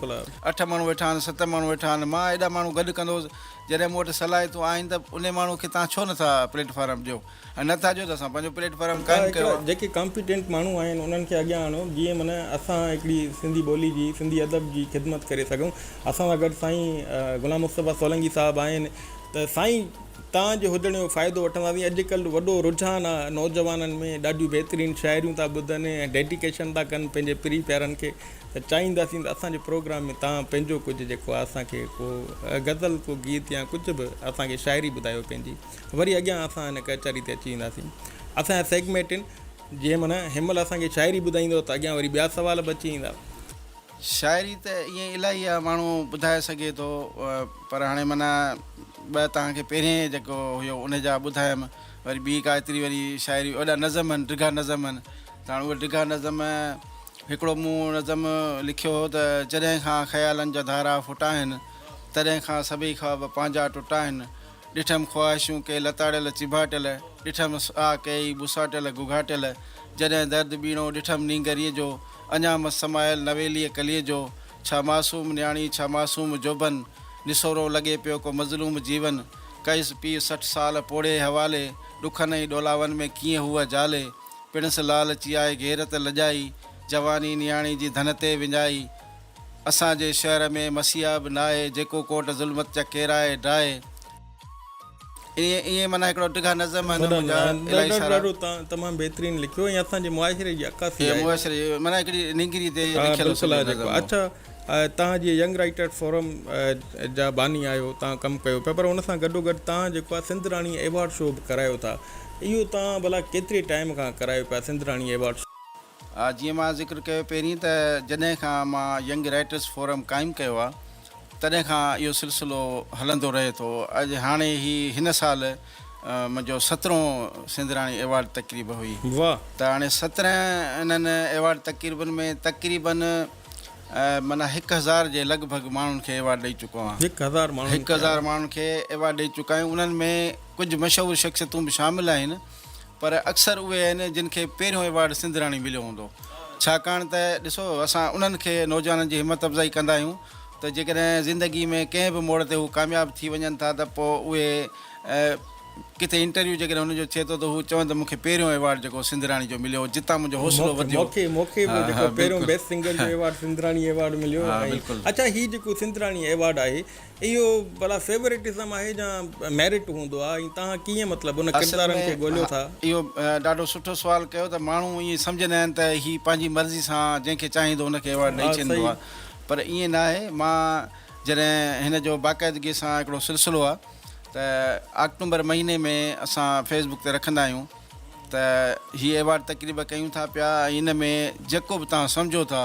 اٺ ماڻهو ويٺا آهن، ست ماڻهو ويٺا آهن. مان ايڏا ماڻهو گڏ ڪندو هوس. جڏهن مون وٽ صلاحيتون آهن ته انهي ماڻهو کي توهان ڇو نه ٿا پليٽ فارم ڏيو؟ ۽ نه ٿا جو ته اسان پنهنجو پليٽ فارم قائم ڪيو آهي. جيڪي ڪامپيٽنٽ ماڻهو آهن انهن کي اڳيان آڻو جيئن من اسان هڪڙي سنڌي ٻولي جي سنڌي ادب جي خدمت ڪري سگهون اسان سان گڏ سائين غلام مصطفيٰ سولنگي صاحب آهن ته سائين تان جي هجڻ جو فائدو وٺنداسين اڄ ڪلهه وڏو رجحان آهي نوجوانن ۾ ڏاڍيون بهترين شاعريون ٿا ٻڌن ۽ ڊيڊيڪيشن ٿا ڪن پنهنجي پري پيارن کي ته چاهينداسين ته اسان جي پروگرام ۾ تان پنهنجو ڪجهه جيڪو آهي اسان کي ڪو غزل ڪو گيت يا ڪجهه به اسان کي شاعري ٻڌايو پنهنجي وري اڳيان اسان هن ڪچهري تي اچي وينداسين. اسان جا سيگميٽن جي من هن مهل اسان کي شاعري ٻڌائيندو ته اڳيان وري ٻيا سوال به اچي ويندا. شاعري ته ائين الاهي آ ماڻهو ٻڌائي سگهي ٿو پر هاڻي من ٻه توهان کي پهرين جيڪو هيو ان جا ٻڌايم وري ٻي ڪا ايتري وري شاعري وڏا نظم هن ڊگها نظم هن ته هاڻي اهي ڊگها نظم هڪڙو مون نظم لکيو هو ته جڏهن کان خيالن جا ڌارا ڦٽا هن تڏهن کان سڀئي خواب پنهنجا ٽٽا هن ڏٺم خواهشون ڪي لتاڙيل چيڀاٽيل، ڏٺم ساهه ڪيئي ٻساٽيل گهگهاٽيل، جڏهن درد ٻيڻو ڏٺم نينگريء جو، اڃا مس سمايل نويليء ڪليء جو، ڇا معصوم نياڻي ڇا معصوم جوڀن، نسورو لڳي پيو ڪو مظلوم جيون، ڪئس پيء سٺ سال پوڙهي حوالي، ڏکن ۽ ڏولاون ۾ ڪيئن هوء جالي، پڻس لالچي آء غيرت لڄائي، جواني نياڻي جي ڌن تي وڃائي، اسان جي شهر ۾ مسيحا به ناهي، جيڪو ڪوٽ ظلمت جا ڪيرائي ڊاهي. ائين ائين معنيٰ هڪڙا ڊگها نظم آهن منهنجا الاهي سارا. ڏاڍو ڏاڍو تمام بهترين لکيو ۽ اسان جي معاشري جي عڪاسي آهي. معاشري معنيٰ هڪڙي نينگري تي لکيل سندو نظم هو. اچا توهان جي ينگ رائيٽرز فورم جا باني آهيو توهان ڪم ڪيو پيا پر ان سان گڏو گڏ توهان جيڪو آهي سنڌ راڻي ايوارڊ شو به ڪرايو ٿا اهو توهان ڀلا ڪيتري ٽائيم کان ڪرايو پيا سنڌ راڻي ايوارڊ شو. جيئن مان ذڪر ڪيو پهرين ته جڏهن کان مان ينگ رائيٽرس فورم قائم ڪيو آهي تڏهن کان اهو سلسلو هلندو رهي ٿو اڄ هاڻي هي هن سال منهنجو سترهون سينڌراڻي ايوارڊ تقريب هئي ته هاڻي سترهن انهن ايوارڊ تقريبن ۾ تقريبن معنيٰ هڪ هزار جي لڳ ڀڳ ماڻهن کي ايوارڊ ڏئي چڪو آهيان هڪ هزار ماڻهن کي ايوارڊ ڏئي چڪا آهيان انهن ۾ ڪجهه مشهور شخصيتون به شامل آهن پر اڪثر اهي آهن جن کي پهريون ايوارڊ سنڌ راڻي مليو هوندو ڇاڪاڻ ته ڏسو اسان انهن کي نوجوانن جي همت افزائي ڪندا آهيون ته جيڪڏهن زندگي ۾ ڪنهن به موڙ تي هو ڪامياب ٿي وڃن ٿا ته پوء اهي ڪٿي انٽرويو جيڪڏهن هنن جو ٿئي ٿو ته هو چون ته مون کي پهريون ايوارڊ جيڪو سنڌ راڻي جو مليو جتان منهنجو حوصلو وڌيو مون کي به جيڪو پهريون بيسٽ سنگر جو ايوارڊ سنڌ راڻي ايوارڊ مليو اڇا هي جيڪو سنڌ راڻي ايوارڊ آهي اهو ڀلا فيوريٽزم آهي يا ميرٽ هوندو آهي ۽ توهان ڪيئن مطلب ان اصل ڪردارن ۾ کي ڳوليو ها ٿا؟ اهو ڏاڍو سٺو سوال ڪيو ته ماڻهو ائين سمجهندا آهن ته هي پنهنجي مرضي سان جنهن کي چاهيندو ان کي ايوارڊ ڏئي ها ڇڏيندو صحيح. آهي پر ائين نه آهي مان جڏهن هن جو باقاعدگي سان هڪڙو سلسلو آهي ته آڪٽومبر مهيني ۾ اسان فيس بڪ تي رکندا آهيون ته هي ايوارڊ تقريب ڪيون ٿا پيا ۽ ان ۾ جيڪو به توهان سمجهو ٿا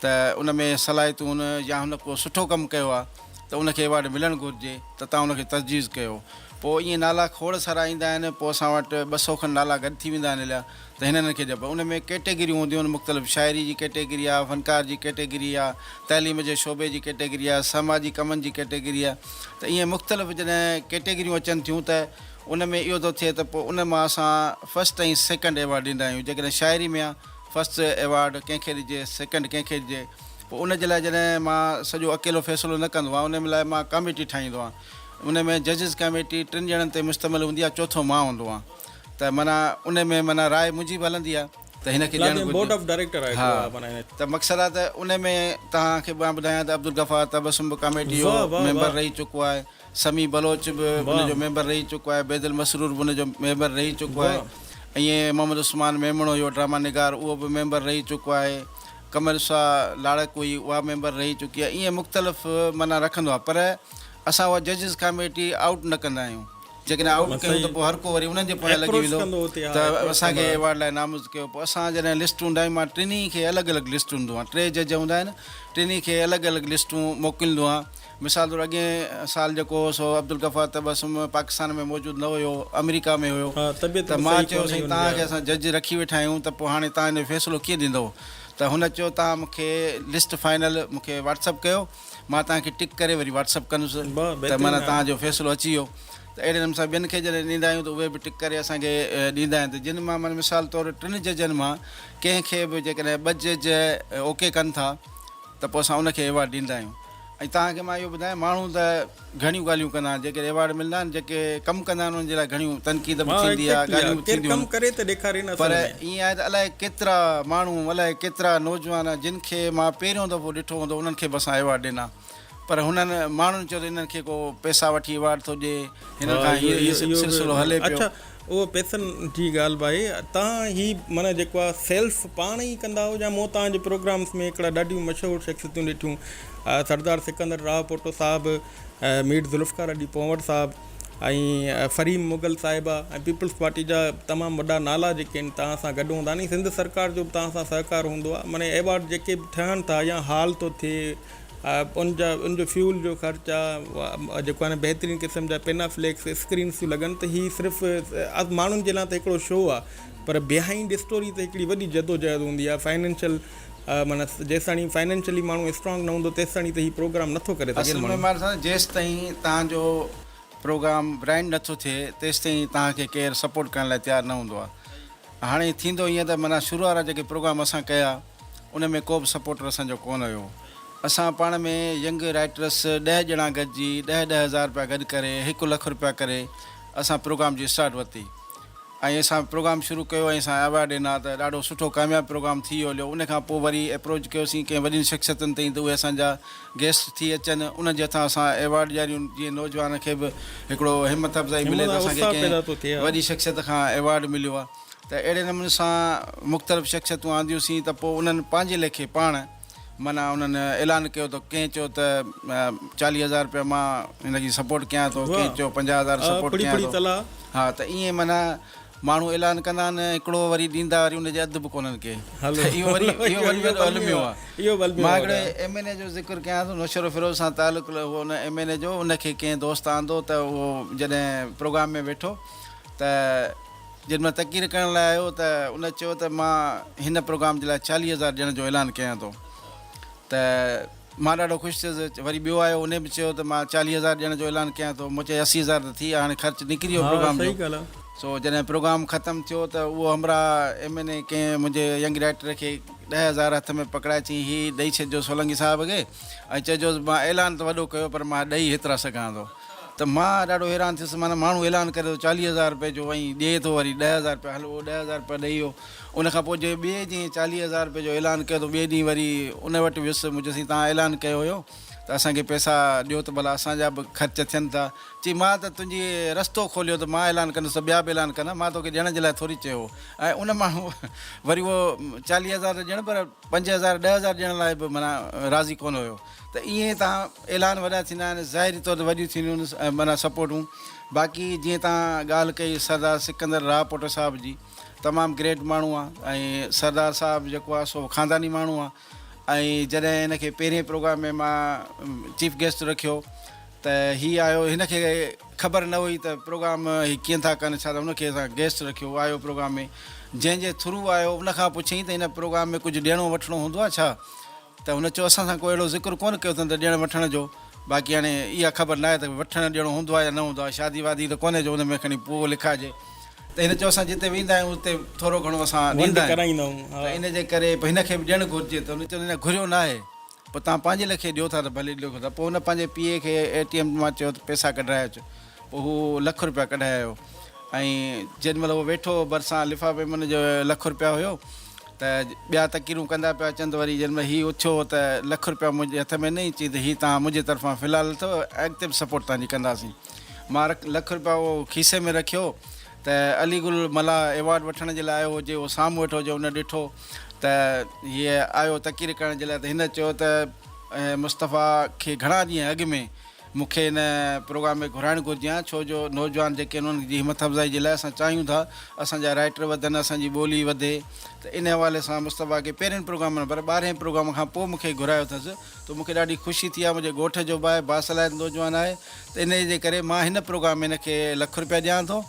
ته ان ۾ صلاحيتون هن يا هن ڪو سٺو ڪم ڪيو آ ته ان کي ايوارڊ ملڻ گهرجي ته تان ان کي تجويز ڪيو پو ائين نالا کوڙ سارا ايندا آهن پو اسان وٽ ٻه سو کن نالا گڏ ٿي ويندا آهن اليا ته هن هن کي ڏيبو ان ۾ ڪيٽيگريون هونديون آهن مختلف شاعري جي ڪيٽيگري آ فنڪار جي ڪيٽيگري آ تعليم جي شعبي جي ڪيٽيگري آ سماجي ڪمن جي ڪيٽيگري آ ته ائين مختلف جڏهن ڪيٽيگريون اچن ٿيون ته ان ۾ اهو ٿو ٿئي ته پو ان مان اسان فرسٽ ۽ سيڪنڊ ايوارڊ ڏيندا آهيون جيڪڏهن شاعري ۾ آ فرسٽ ايوارڊ ڪنهن کي ڏجي سيڪنڊ ڪنهن کي ڏجي پوء ان جي لاء جڏهن مان سڄو اڪيلو فيصلو نه ڪندو آهيان ان لاء مان ڪاميٽي ٺاهيندو آهيان ان ۾ ججز ڪاميٽي ٽن ڄڻن تي مشتمل هوندي آهي چوٿون مان هوندو آهيان ته معنيٰ ان ۾ معنيٰ راء منهنجي به هلندي آهي ته هن کي ڏيڻ گهرجي ها ته مقصد آهي ته ان ۾ توهان کي مان ٻڌايان ته عبدالغفار تبسم به ڪاميٽي جو ميمبر رهي چڪو آهي سميع بلوچ به ان جو ميمبر رهي چڪو آهي، عبيد المسرور به ان جو ميمبر رهي چڪو آهي ائين محمد عثمان ميمڻ هيو ڊراما نگار اهو به ميمبر رهي چڪو آهي، قمر شاهه لاڙڪ هئي اها ميمبر رهي چڪي آهي ائين مختلف معنيٰ رکندو آهي پر اسان اها ججز ڪاميٽي آئوٽ نه ڪندا آهيون جيڪڏهن آئوٽ ڪيون ته پوء هر ڪو وري انهن جي پويان لڳي ويندو ته اسان کي ايوارڊ لاء نامزد ڪيو پوء اسان جڏهن لسٽون ڊائما ٽنهي کي الڳ الڳ لسٽون ڏيندو آهيان ٽي جج هوندا آهن ٽنهي کي الڳ الڳ لسٽون موڪليندو آهيان. مثال طور اڳئين سال جيڪو هو سو عبدالغفار تبسم پاڪستان ۾ موجود نه هيو، آمريڪا ۾ هيو ته مان چيو سائين توهان کي اسان جج رکي ويٺا آهيون ته پوء هاڻي توهان انهيء فيصلو ڪيئن ڏيندؤ ته هن چيو توهان مون کي لسٽ فائنل مون کي واٽس اپ ڪيو مان توهان کي ٽڪ ڪري وري واٽس اپ ڪندس ته معنيٰ توهان جو فيصلو اچي ويو ته اهڙي نموني سان ٻين کي جڏهن ڏيندا آهيون ته اهي به ٽڪ ڪري اسان کي ڏيندا آهن ته جن مان معنيٰ مثال طور ٽن ججن مان ڪنهن کي به جيڪڏهن ٻه جج اوڪي ڪن ٿا ته پوء اسان ان کي ايوارڊ ڏيندا آهيون. ۽ توهان کي مان اهو ٻڌايان ماڻهو ته گهڻيون ڳالهيون ڪندا آهن جيڪڏهن ايوارڊ ملندا آهن جيڪي ڪم ڪندا آهن انهن جي لاء گهڻيون تنقيد به ٿيندي آهي ڳالهيون به ٿينديون آهن پر ائين آهي ته الائي ڪيترا ماڻهو الائي ڪيترا نوجوان جن کي مان پهريون دفعو ڏٺو هوندو انهن کي به اسان ايوارڊ ڏنا پر هنن ماڻهن چيو ته انهن کي ڪو پئسا وٺي ايوارڊ ٿو ڏي هنن کان هي سلسلو هلي پيو اهو پئسن جي ڳالهه به آهي تان هي معنيٰ جيڪو آهي سيلف پاڻ ئي ڪندا هئا مون تان جي پروگرامس ۾ هڪڙا ڏاڍيون مشهور شخصيتون ڏٺيون سردار سڪندر راهوپوٽو صاحب مير ذوالفقار علي پنهور صاحب ۽ فريم مغل صاحبه ۽ پيپلز پارٽي جا تمام وڏا نالا جيڪي آهن تان سان گڏ هوندا ني سنڌ سرڪار جو به تان سان سهڪار هوندو آهي معنيٰ ايوارڊ جيڪي به ٺهن ٿا يا هال ٿو ٿئي ان جا ان جو فيول جو خرچ آ جيڪو آھي بهترين قسم جا پينا فليڪس اسڪرينس ٿيون لڳن ته هي صرف ماڻهن جي لاء ته هڪڙو شو آ پر بيهائنڊ اسٽوري تي هڪڙي وڏي جدوجهد هوندي آ فائنينشل معنيٰ جيستاڻي فائنينشلي ماڻهو اسٽرانگ نه هوندو تيستاڻي ته هي پروگرام نٿو ڪري سگهي اصل ۾ ماڻهو سان جيستائين توهان جو پروگرام برانڊ نٿو ٿئي تيستائين توهان کي ڪير سپورٽ ڪرڻ لاء تيار نه هوندو آ هاڻي ٿيندو ائين ته معنيٰ شروع وارا جيڪي پروگرام اسان ڪيا ان ۾ ڪو به سپورٽر اسان جو ڪونه هيو. اسان پاڻ ۾ ينگ رائيٽرس ڏهه ڄڻا گڏجي ڏهه ڏهه هزار رپيا گڏ ڪري هڪ لک رپيا ڪري اسان پروگرام جي اسٽارٽ ورتي ۽ اسان پروگرام شروع ڪيو ۽ اسان ايوارڊ ڏنا ته ڏاڍو سٺو ڪامياب پروگرام ٿي هليو ان کان پوء وري اپروچ ڪيوسين ڪئين وڏين شخصيتن تائين ته اهي اسان جا گيسٽ ٿي اچن انهن جي هٿان اسان ايوارڊ ڏياريون جيئن نوجوانن کي به هڪڙو همت افزائي ملي ته اسان کي ڪئين وڏي شخصيت کان ايوارڊ مليو آهي. ته اهڙي نموني سان مختلف شخصيتون آنديون سين ته پوء انهن پنهنجي ليکي پاڻ معنيٰ انهن اعلان ڪيو ته ڪنهن چيو ته چاليهه هزار رپيا مان هن جي سپورٽ ڪيان ٿو ڪنهن چيو پنجاهه هزار سپورٽ ڪيان ٿو ها ته ائين معنيٰ ماڻهو اعلان ڪندا آهن هڪڙو وري ڏيندا وري ان جي اڌ به ڪونهن ڪي ته اهو وري اهو وري وڏو الميو آهي مان هڪڙي ايم اين اي جو ذڪر ڪيان ٿو نوشهرو فيروز سان تعلق هو ان ايم اين اي جو ان کي ڪنهن دوست آندو ته اهو جڏهن پروگرام ۾ ويٺو ته جڏھن مان تقرير ڪرڻ لاء آيو ته ان چيو ته مان ھن پروگرام جي لاء چاليھه ھزار ڏيڻ جو اعلان ڪيان ٿو ته مان ڏاڍو خوش ٿيس وري ٻيو آيو ان به چيو ته مان چاليھه ھزار ڏيڻ جو اعلان ڪيان ٿو مون چيو اسي ھزار ته ٿي ويا ھاڻي خرچ نڪري ويو پروگرام جو سو جڏھن پروگرام ختم ٿيو ته اھو ھمراھ ايم اين اي ڪنھن منھنجي ينگ رائٽر کي ڏهه ھزار ھٿ ۾ پڪڙائي چيائين ھي ڏئي ڇڏجو سولنگي صاحب کي ۽ چئجوس مان اعلان ته وڏو ڪيو پر مان ڏئي ھيترا سگھان ٿو ته مان ڏاڍو حيران ٿيس معنيٰ ماڻهو اعلان ڪري ٿو چاليهه هزار رپئي جو ۽ ڏئي ٿو وري ڏهه هزار رپيا هل اهو ڏهه هزار رپيا ڏئي ويو ان کان پوء جي ٻئي ڏينهن چاليهه هزار رپئي جو اعلان ڪيو ته ٻئي ڏينهن وري ان وٽ ويس مون چيس سائين توهان اعلان ڪيو هيو ته اسان کي پئسا ڏيو ته ڀلا اسان جا به خرچ ٿين ٿا چي مان ته تنهنجي رستو کوليو ته مان اعلان ڪندس ته ٻيا به اعلان ڪندا مان توکي ڏيڻ جي لاء ٿوري چيو هو ۽ ان ماڻهو وري اهو چاليهه هزار ته ڄڻ پر پنج هزار ڏهه هزار ڏيڻ لاء به معنيٰ راضي ڪونه هيو. ته ائين تان اعلان وڏا ٿيندا آهن ظاهري طور تي وڏيون ٿينديون معنيٰ سپورٽون باقي جيئن تان ڳالهه ڪئي سردار سڪندر راء پوٽو صاحب جي تمام گريٽ ماڻهو آ ۽ سردار صاحب جيڪو آ سو خانداني ماڻهو آ ۽ جڏهن هن کي پهرين پروگرام ۾ مان چيف گيسٽ رکيو ته هي آيو هن کي خبر نه هئي ته پروگرام هي ڪين ٿا ڪن ڇا ته هن کي اسان گيسٽ رکيو آيو پروگرام ۾ جنهن جي ٿرو آيو ان کان پڇيائين ته هن پروگرام ۾ ڪجهه ڏيڻو وٺڻو هوندو آ ڇا ته هن چيو اسان سان ڪو اهڙو ذڪر ڪونه ڪيو اٿن ته ڏيڻ وٺڻ جو باقي هاڻي اها خبر ناهي ته وٺڻ ڏيڻو هوندو آهي يا نه هوندو آهي شادي وادي ته ڪونهي جو ان ۾ کڻي پوء لکائجي ته هن چيو اسان جتي ويندا آهيون اتي ٿورو گهڻو اسان ڏيندا آهيون ته ان جي ڪري به هن کي به ڏيڻ گهرجي ته هن چيو نه گهريو ناهي پوء توهان پنهنجي لکي ڏيو ٿا ته ڀلي ڏيو ته پوء هن پنهنجي پيء کي اي ٽي ايم مان چيو ته پئسا ڪڍرائي اچ هو لک روپيا ڪڍائي آيو ۽ جنهن مهل هو ويٺو هو ڀرسان لفافي ۾ ان جو لک روپيا هيو ته ٻيا تقريرون ڪندا پيا اچن ته وري جنهن مهل هي اٿيو ته لک روپيا منهنجي هٿ ۾ نئي چي ته هي توهان منهنجي طرفان في الحال اٿو ۽ اڳتي به سپورٽ توهان جي ڪنداسين مان لک روپيا اهو کيسي ۾ رکيو ته علي گل ملاح ايوارڊ وٺڻ جي لاء آيو هو جي اهو سامهون ويٺو هو جي ان ڏٺو ته هي آيو تقرير ڪرڻ جي لاء ته هن چيو ته مصطفيٰ کي گهڻا ڏينهن اڳ ۾ مون کي ان پروگرام ۾ گهرائڻ گهرجي ها ڇو جو نوجوان جيڪي آهن انهن جي همٿ افزائي جي لاء اسان چاهيون ٿا اسان جا رائٽر وڌن اسان جي ٻولي وڌي ته ان حوالي سان مصطفيٰ کي پهرين پروگرام نه پر ٻارهين پروگرام کان پوء مون کي گهرايو اٿس ته مون کي ڏاڍي خوشي ٿي آهي منهنجي ڳوٺ جو به آهي باصلاحيت نوجوان آهي ته انهي جي ڪري مان هن پروگرام ۾ هن کي لک رپيا ڏيان ٿو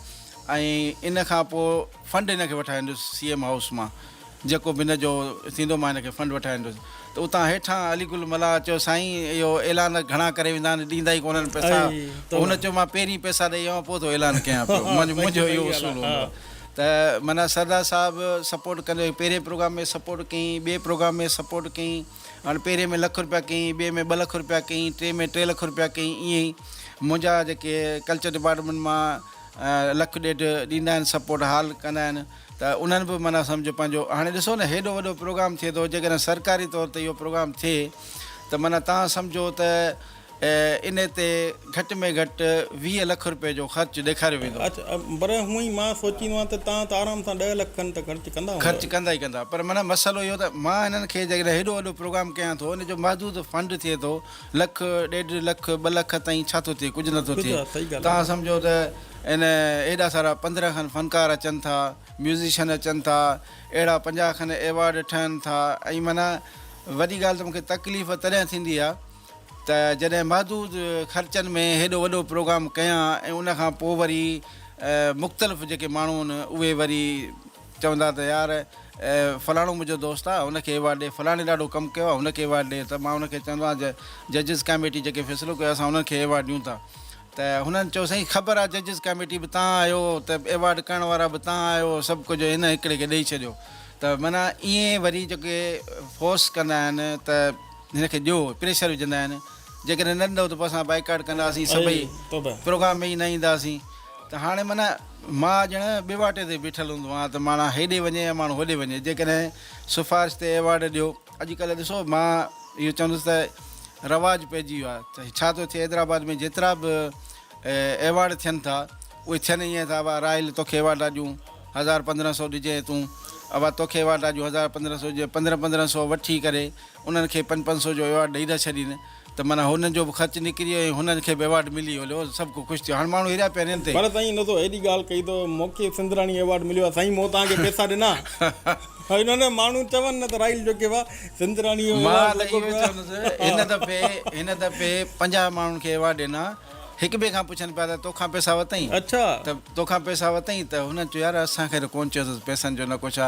۽ ان کان پوء فنڊ هن کي وٺائيندس سي ايم هائوس مان جيڪو به هن جو ٿيندو مان هن کي فنڊ وٺائيندس ته اتان هيٺان علي گل ملاح چيو سائين اهو اعلان گهڻا ڪري ويندا آهن ڏيندا ئي ڪونهن پئسا پوء هن چيو مان پهرين پئسا ڏئي آيو پوء ٿو اعلان ڪيان پيو منهنجو اهو اصول هوندو آهي ته معنيٰ سردار صاحب سپورٽ ڪندو هي پهرين پروگرام ۾ سپورٽ ڪيائين ٻئي پروگرام ۾ سپورٽ ڪيائين هاڻي پهرين ۾ لک رپيا ڪيائين ٻئي ۾ ٻه لک رپيا ڪيائين ٽئين ۾ ٽي لک رپيا ڪيائين ائين ئي منهنجا جيڪي ڪلچر ڊپارٽمينٽ مان لک ڏيڍ ڏيندا آهن سپورٽ حال ڪندا آهن ته انهن به معنيٰ سمجهه پنهنجو هاڻي ڏسو نه هيڏو وڏو پروگرام ٿئي ٿو جيڪڏهن سرڪاري طور تي اهو پروگرام ٿئي ته معنيٰ تان سمجهو ته ان تي گهٽ ۾ گهٽ ويهه لک روپيه جو خرچ ڏيکاريو ويندو. اچ پر هونء ئي مان سوچيندو آهيان ته تان ته آرام سان ڏهه لک کن ته خرچ ڪندا هوندؤ. خرچ ڪندا ئي ڪندا پر معنيٰ مسئلو اهو ته مان هنن کي جيڪڏهن هيڏو وڏو پروگرام ڪيان ٿو ان جو محدود فنڊ ٿئي ٿو لک، ڏيڍ لک، ٻه لک تائين ڇا ٿو ٿئي، ڪجهه نه ٿو ٿئي. توهان سمجهو ته ان ايڏا سارا پندرهن کن فنڪار اچن ٿا، ميوزيشن اچن ٿا، اهڙا پنجاهه کن ايوارڊ ٺهن ٿا ۽ معنيٰ وڏي ڳالهه ته مون کي تڪليف تڏهن ٿيندي آهي ته جڏهن محدود خرچن ۾ هيڏو وڏو پروگرام ڪيان ۽ ان کان پوء وري مختلف جيڪي ماڻهو آهن اهي وري چوندا ته يار فلاڻو منهنجو دوست آ هن کي ايوارڊ ڏي فلاڻي ڏاڍو ڪم ڪيو آ هن کي ايوارڊ ڏي ته مان هن کي چوندو آهيان ججز ڪاميٽي جيڪي فيصلو ڪيو اسان انهن کي ايوارڊ ڏيون ٿا ته هنن چيو سائين خبر آ ججز ڪاميٽي به تان آهيو ته ايوارڊ ڪرڻ وارا به تان آهيو سڀ ڪجهه هن هڪڙي کي ڏئي ڇڏيو ته معنيٰ ائين وري جيڪي فورس ڪندا آهن ته هن کي ڏيو پريشر وجهندا آهن جيڪڏهن نه ڏنو ته پوء اسان بائيڪاٽ ڪنداسين سڀئي پروگرام ۾ ئي نه اينداسين ته هاڻي معنيٰ مان ڄڻ ٻيواٽي تي بيٺل هوندو هئان ته ماڻا هيڏي وڃي يا ماڻهو هوڏي وڃي جيڪڏهن سفارش تي ايوارڊ ڏيو اڄ ڪلهه ڏسو مان اهو چوندس ته رواج پئجي ويو آهي ته ڇا ٿو ٿئي حيدرآباد ۾ جيترا به ايوارڊ ٿين ٿا اهي ٿين ائين ٿا اوا راحيل توکي ايوارڊ ٿا ڏيون هزار پندرهن سو ڏجئين تون اوا توکي ايوارڊ ٿا ڏيون هزار پندرهن سو ڏجئين پندرهن پندرهن سو وٺي ڪري انهن کي پنج پنج سو جو ايوارڊ ڏئي نه ڇڏين ته معنيٰ هنن جو به خرچ نڪري ويو ۽ هنن کي به ايوارڊ ملي ويو لو سڀ ڪو خوش ٿيو هاڻ ماڻهو هريا پيا آهن هن تي. پر سائين ان تو اهڙي ڳالهه ڪئي تو مونکي سنڌراڻي ايوارڊ مليو آهي سائين مون توهان کي پيسا ڏنا ها نه نه ماڻهو چون نه ته راحيل جوکي وا سنڌراڻي جو ايوارڊ لڳو پيو آهي مان ته اهو ئي چوندس هن دفعي هن دفعي پنجاهه ماڻهن کي ايوارڊ ڏنا هڪ ٻئي کان پڇن پيا ته تو کان پيسا ورتئين اڇا ته تو کان پيسا ورتئين ته هنن چيو يار اسان کي ته ڪون چيو اٿس پيسن جو نه ڪو ڇا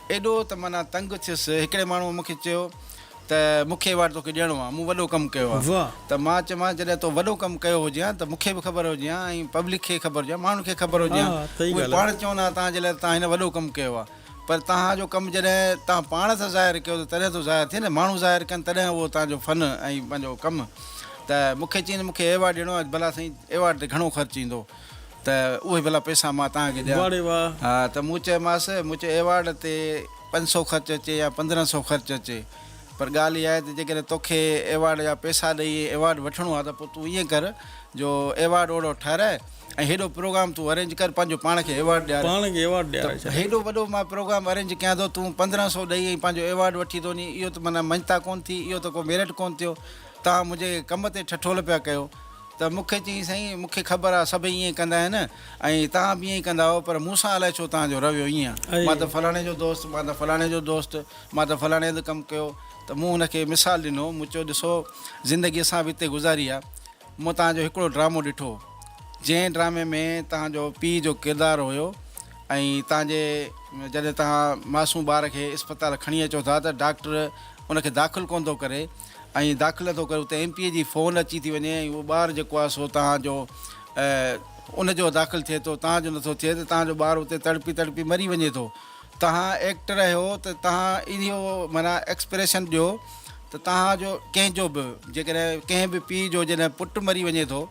ايڏو ته معنيٰ تنگ ٿيس. هڪڙي ماڻهوء مون کي چيو ته مون کي ايوارڊ توکي ڏيڻو آ، مون وڏو ڪم ڪيو آ. ته مان چيومانس جڏهن تو وڏو ڪم ڪيو هجي ها ته مون کي به خبر هجي ها ۽ پبلڪ کي خبر هجي ها، ماڻهن کي خبر هجي ها. اهي پاڻ چون ها توهان جي لاء ته توهان هن وڏو ڪم ڪيو آ. پر توهان جو ڪم جڏهن توهان پاڻ ٿا ظاهر ڪيو ته تڏهن ٿو ظاهر ٿئي نه، ماڻهو ظاهر ڪن تڏهن اهو توهان جو فن ۽ پنهنجو ڪم. ته مون کي چيائين ته مون کي ايوارڊ ڏيڻو آ. بلا سائين ايوارڊ تي گهڻو خرچ ايندو. ته اهي ڀلا پئسا مان توهان کي ڏيان؟ ته مون چيومانس، مون چيو ايوارڊ تي پنج سؤ خرچ اچي يا پندرهن سؤ خرچ اچي پر ڳالهه اها آهي ته جيڪڏهن توکي ايوارڊ جا پئسا ڏئي ايوارڊ وٺڻو آهي ته پوء تون ائين ڪر جو ايوارڊ اوهڙو ٺهرائي ۽ هيڏو پروگرام تون ارينج ڪر پنهنجو پاڻ کي ايوارڊ ڏياري ته هيڏو وڏو مان پروگرام ارينج ڪيان ٿو تون پندرهن سؤ ڏئي ۽ پنهنجو ايوارڊ وٺي ٿو وڃين اهو ته معنيٰ مڃتا ڪونه ٿي اهو ته ڪو ميرٽ ڪونه ٿيو توهان منهنجي ڪم تي ٺٺول پيا ڪيو. ته مون کي چيائين، سائين، مون کي خبر آ سڀ ائين ئي ڪندا آهن ۽ توهان به ائين ئي ڪندا هئو، پر مون سان الائي ڇو توهان جو رويو ائين آ. مان ته فلاڻي جو دوست، مان ته فلاڻي جو دوست، مان ته فلاڻي هنڌ ڪم ڪيو، ته مون هن کي مثال ڏنو، مون چيو، ڏسو، زندگي اسان به اتي گذاري آ، مون توهان جو هڪڙو ڊرامو ڏٺو، جنهن ڊرامي ۾ توهان جو پيء جو ڪردار هيو ۽ توهان جي جڏهن توهان معصوم ٻار کي اسپتال کڻي اچو ٿا ته ڊاڪٽر ان کي داخل ڪونه ٿو ڪري، ۽ داخله ٿو ڪري اتي ايم پي اي جي فون اچي ٿي وڃي ۽ اهو ٻار جيڪو آهي سو توهان جو ان جو داخل ٿئي ٿو توهان جو نٿو ٿئي ته توهان جو ٻار اتي تڙپي تڙپي مري وڃي ٿو توهان ايڪٽر آهيو ته توهان اهو معنيٰ ايڪسپريشن ڏيو ته توهان جو ڪنهن جو به جيڪڏهن ڪنهن به پيء جو جڏهن پٽ مري وڃي ٿو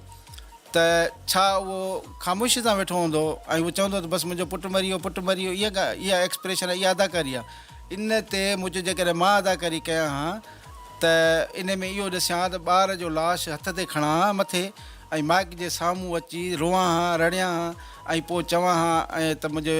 ته ڇا اهو خاموشي سان ويٺو هوندو ۽ اهو چوندو ته بس منهنجو پٽ مري ويو، پٽ مري ويو، اها اها ايڪسپريشن ۽ اها اداڪاري آهي. ان تي مون چيو جيڪڏهن مان اداڪاري ڪيان ها ته انهي ۾ اهو ڏسيان ها ته ٻار جو لاش هٿ تي کڻان ها مٿي ۽ مائيڪ جي سامهون اچي روئان ها، رڙيان ها ۽ پوء چوان ها ته منهنجي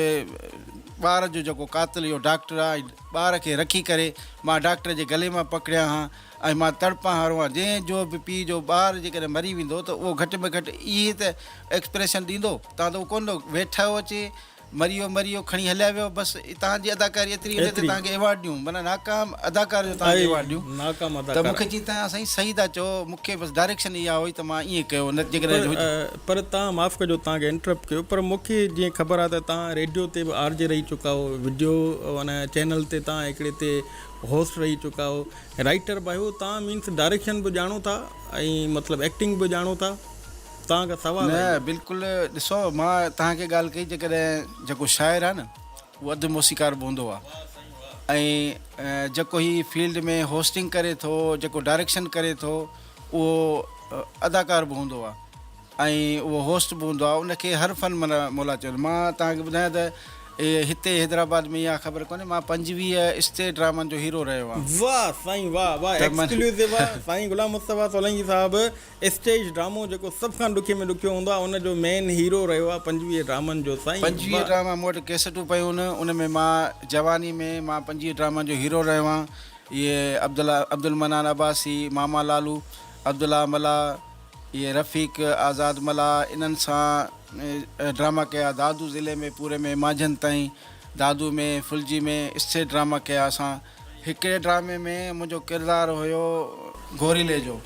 ٻار جو جيڪو قاتل اهو ڊاڪٽر آهي ۽ ٻار کي رکي ڪري مان ڊاڪٽر جي گلي مان پڪڙيان ها. ۽ مان تڙپان هارو آهيان. جنهن جو به پيء جو ٻار جيڪڏهن مري ويندو ته اهو گهٽ ۾ گهٽ اهي ته ايڪسپريشن ڏيندو. تان ته اهو ڪونه ڏنو. ويٺو اچي، مري ويو مري ويو، کڻي هليا ويو بس. تان جي اداڪاري ايتري وڏي ته تان کي ايوارڊ ڏيون. معنيٰ ناڪام اداڪار جو تان کي ايوارڊ ڏيون. ته مون کي چيائين ته تان سائين صحيح ٿا چئو. مون کي بس ڊائريڪشن اها هئي ته مان ائين ڪيو نه جيڪڏهن. پر تان معاف ڪجو تان کي انٽرپٽ ڪيو پر مون کي جيئن خبر آهي ته تان ريڊيو تي به آر جي رهي چڪا آهيو. وڊيو معنيٰ چينل تي تان هڪڙي تي هوسٽ رهي چڪا آهيو رائيٽر به آهيو تان مينس ڊائريڪشن به ڄاڻو ٿا ۽ مطلب ايڪٽنگ به ڄاڻو ٿا تان کان سوال نه آهي بلڪل ڏسو مان تان کي ڳالهه ڪئي جيڪڏهن جيڪو شاعر آهي نه هو اڌ موسيقار به هوندو آهي ۽ جيڪو هي فيلڊ ۾ هوسٽنگ ڪري ٿو جيڪو ڊائريڪشن ڪري ٿو اهو اداڪار به هوندو آهي ۽ اهو هوسٽ به هوندو آهي ان کي هر فن ملا مولا چون مان توهان کي ٻڌايان ته هتي حيدرآباد ۾ يا خبر ڪونهي مان پنجويهه اسٽيج ڊرامن جو هيرو رهيو آهيان. واه سائين واه واه ته من. ايڪسڪلوسو آ سائين غلام مصطفيٰ سولنگي صاحب اسٽيج ڊرامو جيڪو سڀ کان ڏکي ۾ ڏکيو هوندو آ ان جو مين هيرو رهيو آ پنجويهه ڊرامن جو سائين پنجويهه واه. ڊراما مون وٽ ڪيسٽون پيون ان ان ۾ مان جواني ۾ مان پنجويهه ڊرامن جو هيرو رهيو آهيان اهي عبدالله عبدالمنان عباسي ماما لالو عبدالله ملاح. اهي رفيق، آزاد ملاح انهن سان ڊراما ڪيا. دادو ضلعي ۾ پوري ۾ مانجهند تائين دادو ۾ ڦلجي ۾ اسٿير ڊراما ڪيا اسان. هڪڙي ڊرامي ۾ منهنجو ڪردار هيو گوريلي جو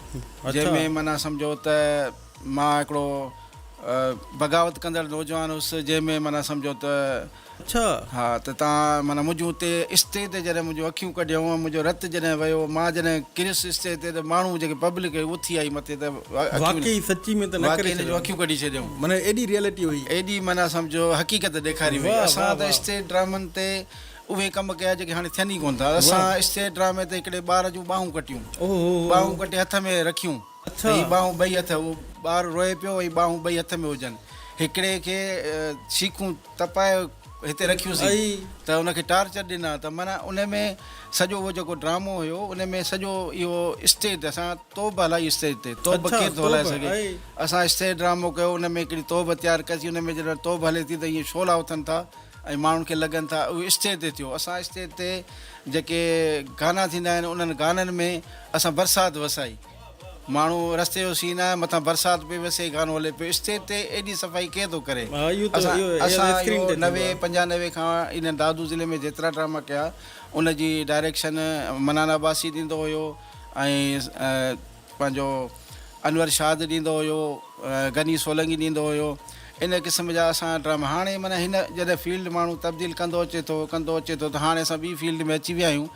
جنهن ۾ معنيٰ سمجهو ته مان هڪڙو بغاوت ڪندڙ نوجوان هيس جنهن ۾ معنيٰ سمجهو ته. ڇا؟ ها ته تان معنيٰ منهنجون اتي استيء تي جڏهن منهنجون اکيون ڪڍيون ۽ منهنجو رت جڏهن وهيو مان جڏهن ڪريس استيء تي ته ماڻهو جيڪي پبلڪ هئي اٿي آئي مٿي ته اکيون واقعي سچي ۾ ته نه واقعي ڪري هن جون ڇڏيو اکيون ڪڍي ڇڏيائون. معنيٰ ايڏي ريئلٽي هئي. ايڏي معنيٰ سمجهو حقيقت ڏيکاري هئي. واهه اسان واهه ته واهه. استيء ڊرامن تي اهي ڪم ڪيا جيڪي هاڻي ٿين ئي ڪونه ٿا. اسان واهه. استيء ڊرامي تي هڪڙي ٻار جون ٻانهون ڪٽيون. اوهو هو هو هو. ٻانهون ڪٽي هٿ ۾ رکيون. ته هي ٻانهون ٻئي هٿ، اهو ٻار روئي پيو ۽ ٻانهون ٻئي هٿ ۾ هجن. هڪڙي کي شيخون تپائي هتي رکيوسين ته ان کي ٽارچر ڏنا ته معنيٰ ان ۾ سڄو اهو جيڪو ڊرامو هيو ان ۾ سڄو اهو اسٽيج تي اسان توب هلائي اسٽيج تي توب ڪير ٿو هلائي سگهي اسان اسٽيج ڊرامو ڪيو ان ۾ هڪڙي توب تيار ڪئسي ان ۾ جڏهن توب هلي ٿي ته ائين شعلا اٿن ٿا ۽ ماڻهن کي لڳن ٿا اهو اسٽيج تي ٿيو اسان اسٽيج تي جيڪي گانا ٿيندا آهن انهن گانن ۾ اسان برسات وسائي. ماڻهو رستي جو سين آهي مٿان برسات پئي وسي گانو هلي پيو اسٽيج تي ايڏي صفائي ڪيئن ٿو ڪري اسان اهو نوي پنجانوي کان انهن دادو ضلعي ۾ جيترا ڊراما ڪيا ان جي ڊائريڪشن منان عباسي ڏيندو هيو ۽ پنهنجو انور شاد ڏيندو هيو غني سولنگي ڏيندو هيو ان قسم جا اسان ڊراما هاڻي معنيٰ هن جڏهن فيلڊ ماڻهو تبديل ڪندو اچي ٿو ڪندو اچي ٿو ته هاڻي اسان ٻي فيلڊ ۾ اچي ويا آهيون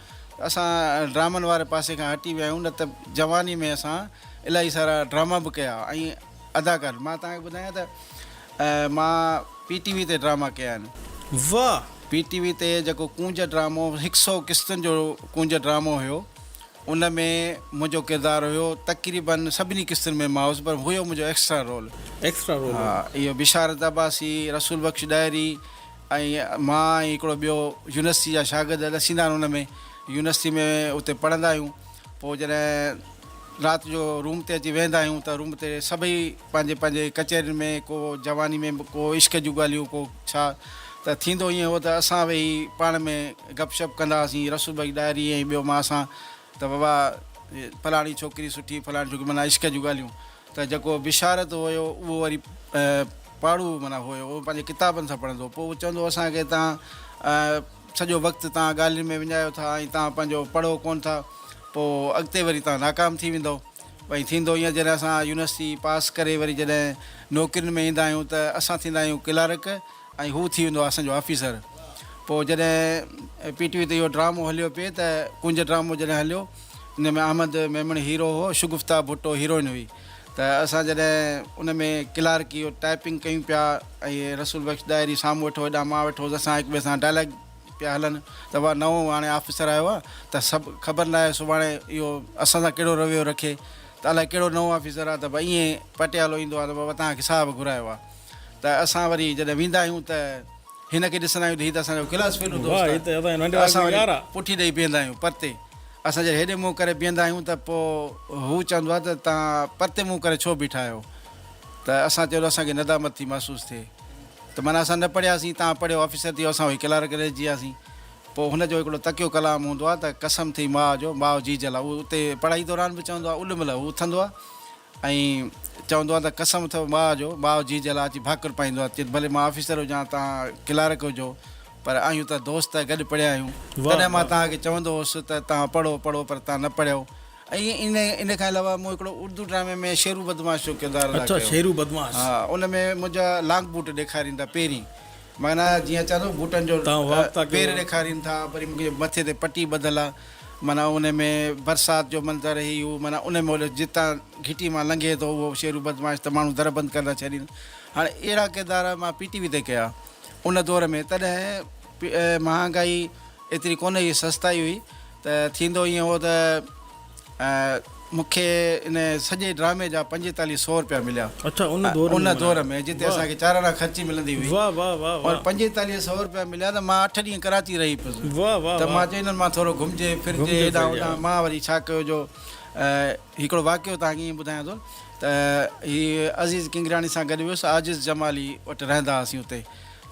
اسان ڊرامن واري پاسي کان هٽي ويا آهيون نه ته جواني ۾ اسان الاهي سارا ڊراما به ڪيا ۽ اداڪار مان توهان کي ٻڌايان ته مان پي ٽي وي تي ڊراما ڪيا آهن. واھ. پي ٽي وي تي جيڪو ڪونج ڊرامو هڪ سئو قسطن جو ڪونج ڊرامو هيو ان ۾ منهنجو ڪردار هيو تقريباً سڀني قسطن ۾ مان هوس پر هيو منهنجو ايڪسٽرا رول. ايڪسٽرا رول هو. اهو بشارت عباسي، رسول بخش ڏاهري، ۽ مان ۽ هڪڙو ٻيو يونيورسٽي جا شاگرد ڏسيندا آهن ان ۾ يونيورسٽي ۾ اتي پڙهندا آهيون پوء جڏهن رات جو روم تي اچي ويهندا آهيون ته روم تي سڀئي پنهنجي پنهنجي ڪچهرين ۾ ڪو جواني ۾ ڪو عشق جون ڳالهيون ڪو ڇا ته ٿيندو ائين هو ته اسان ويهي پاڻ ۾ گپ شپ ڪندا هئاسين رسول بخش ڏاهري ۽ ٻيو مان اسان ته ووا فلاڻي ڇوڪري سٺي فلاڻي ڇوڪري معنيٰ عشق جون ڳالهيون ته جيڪو بشارت هيو اهو وري پاڙهو معنيٰ هيو اهو پنهنجي ڪتابن سان پڙهندو هو پوء اهو چوندو هو اسان کي تان سڄو وقت تان ڳالهين ۾ وڃايو ٿا ۽ تان پنهنجو پڙهو ڪون ٿا پوء اڳتي وري تان ناڪام ٿي ويندو ۽ ٿيندو ايئن جڏهن اسان يونيورسٽي پاس ڪري وري جڏهن نوڪرين ۾ ايندا آهيون ته اسان ٿيندا آهيون ڪلارڪ ۽ هو ٿي ويندو آهي اسان جو آفيسر. پوء جڏهن پي ٽي وي تي اهو ڊرامو هليو پئي ته ڪنج ڊرامو جڏهن هليو ان ۾ احمد ميمڻ هيرو هو شگفته ڀٽو هيروئن هئي ته اسان جڏهن ان ۾ ڪلارڪ اهو ٽائپنگ ڪيون پيا ۽ رسول بخش ڏاهري سامهون ويٺو هيڏانهن مان ويٺو هوس اسان هڪ ٻئي سان ڊائلاگ پيا هلن ته واه نئون هاڻي آفيسر آيو آهي ته سڀ خبر ناهي سڀاڻي اهو اسان سان ڪهڙو رويو رکي ته الائي ڪهڙو نئون آفيسر آهي ته به ائين پٽيالو ايندو آهي ته بابا توهان کي صاحب گهرايو آهي. ته اسان وري جڏهن ويندا آهيون ته هن کي ڏسندا آهيون ته هي ته اسان جو ڪلاس فيلو دوست آهي ته اسان وري پٺي ڏئي بيهندا آهيون پرتي اسان جڏهن هيڏي منهن ڪري بيهندا آهيون ته پوء هو چوندو آهي ته توهان پرتي منهن ڪري ڇو بيٺا آهيو ته اسان چيو ته اسان کي ندامت ٿي محسوس ٿئي ته معنيٰ اسان نه پڙهياسين توهان پڙهيو آفيسر ٿيو اسان وئي ڪلارڪ رهجي وياسين پوء هن جو هڪڙو تکيو ڪلام هوندو آهي ته قسم ٿئي ماء جو ماء جيجل آهي هو اتي پڙهائي دوران به چوندو آهي اولمل هو اٿندو آهي ائين چوندو آ ته قسم اٿئو ماء جو، ماء جيء جي لاء اچي ڀاڪر پائيندو آ، چي ته ڀلي مان آفيسر هجان توهان ڪلارڪ هجو، پر آهيون ته دوست، گڏ پڙهيا آهيون، تڏهن مان توهان کي چوندو هوس ته توهان پڙهو پڙهو پر توهان نه پڙهيو. ائين ئي ان کان علاوه مون هڪڙو اردو ڊرامي ۾ شيرو بدمعاش جو ڪردار ادا ڪيو ها ان ۾ منهنجا لانگ بوٽ ڏيکارين ٿا پيرين معنيٰ جيئن چئن ٿا بوٽن جو پير ڏيکارين ٿا وري مونکي مٿي تي پٽي ٻڌل آ. معنيٰ ان ۾ برسات جو منظر هي هو معنيٰ ان مهل جتان گهٽي مان لنگهي ٿو اهو شيرو بدمعاش ته ماڻهو در بند ڪري ٿا ڇڏين هاڻي اهڙا ڪردار مان پي ٽي وي تي ڪيا ان دور ۾ تڏهن مهانگائي ايتري ڪونه هئي سستائي هئي ته ٿيندو ائين هو ته مون کي ان سڄي ڊرامي جا پنجيتاليهه سئو روپيا مليا. اڇا ان دور ۾ ان دور ۾ جتي اسان کي چار آنا خرچي ملندي هئي. واهه واهه واهه واهه. پنجيتاليهه سئو روپيا مليا ته مان اٺ ڏينهن ڪراچي رهي پيس. واهه واهه واهه. ته مان چيو هنن مان ٿورو گهمجي ڦرجي هيڏانهن هوڏانهن مان وري ڇا ڪيو جو هڪڙو واقعو توهان کي ائين ٻڌايان ٿو ته هي عزيز ڪنگرياڻي سان گڏ ويس عاجز جمالي وٽ رهندا هئاسين اتي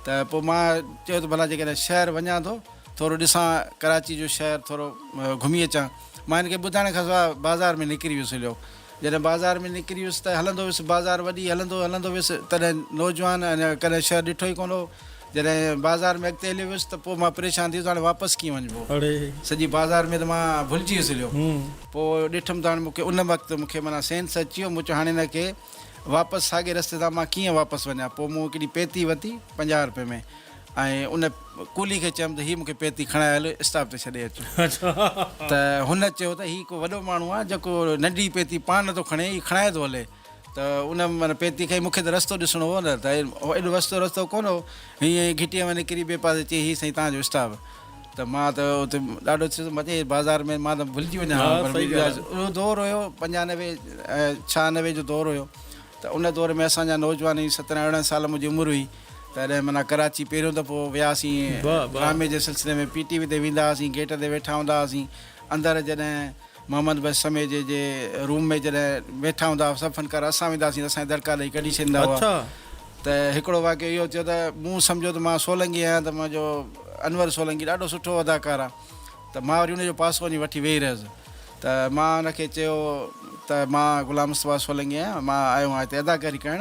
ته پوء مان چيو ته ڀلا جيڪڏهن شهر وڃان ٿو ٿورو ڏسان ڪراچي جو شهر ٿورو گهمي اچان. مان هن کي ٻڌائڻ کانسواء بازار ۾ نڪري ويس. هليو جڏهن بازار ۾ نڪري ويس ته هلندو ويس. بازار وڏي هلندو هلندو ويس تڏهن نوجوان اڃا ڪڏهن شهر ڏٺو ئي ڪونه هو. جڏهن بازار ۾ اڳتي هليو ويس ته پوء مان پريشان ٿي ويس هاڻي واپس ڪيئن وڃبو. سڄي بازار ۾ ته مان ڀلجي ويس. هليو پوء ڏٺم ته هاڻي مون کي ان وقت مون کي معنيٰ سينس اچي ويو. مون چيو هاڻي هن کي واپس ساڳئي رستي تان مان ڪيئن واپس وڃان. پوء مون هڪڙي پيتي ورتي پنجاهه روپين ۾. ۽ ان ڪلي کي چيم ته هي مون کي پيتي کڻائي هل اسٽاپ تي ڇڏي اچ. ته هن چيو ته هي ڪو وڏو ماڻهو آهي جيڪو ننڍڙي پيتي پاڻ نه ٿو کڻي هي کڻائي ٿو هلي. ته ان معنيٰ پيتي کڻي مون کي ته رستو ڏسڻو هو نه ته ايڏو وستو رستو ڪونه هو. هينئن ئي گهٽيء ۾ نڪري ٻئي پاسي چيائين هي سائين تهان جو اسٽاپ. ته مان ته اتي ڏاڍو ٿيس مان چيائين بازار ۾ مان ته ڀلجي وڃان ها پر اهو دور هيو پنجاهه نوي ڇهه نوي جو دور هيو ته ان دور ۾ اسان جا نوجوان سترهن ارڙهن سال منهنجي عمر هئي. تڏهن معنيٰ ڪراچي پهريون دفعو وياسين ڊرامي جي سلسلي ۾ پي ٽي وي تي ويندا هئاسين گيٽ تي ويٺا هوندا هئاسين اندر جڏهن محمد بخش سميجي جي روم ۾ جڏهن ويٺا هوندا هئا سڀ فنڪار اسان ويندا هئاسين ته اسان کي دڙڪا ڏئي ڪڍي ڇڏيندا هئا ته هڪڙو واقعو اهو ٿيو ته مون سمجهيو ته مان سولنگي آهيان ته منهنجو انور سولنگي ڏاڍو سٺو اداڪار آهي ته مان وري ان جو پاسو وڃي وٺي ويهي رهيس ته مان ان کي چيو ته مان غلام مصطفيٰ سولنگي آهيان مان آيو آهيان هتي اداڪاري ڪرڻ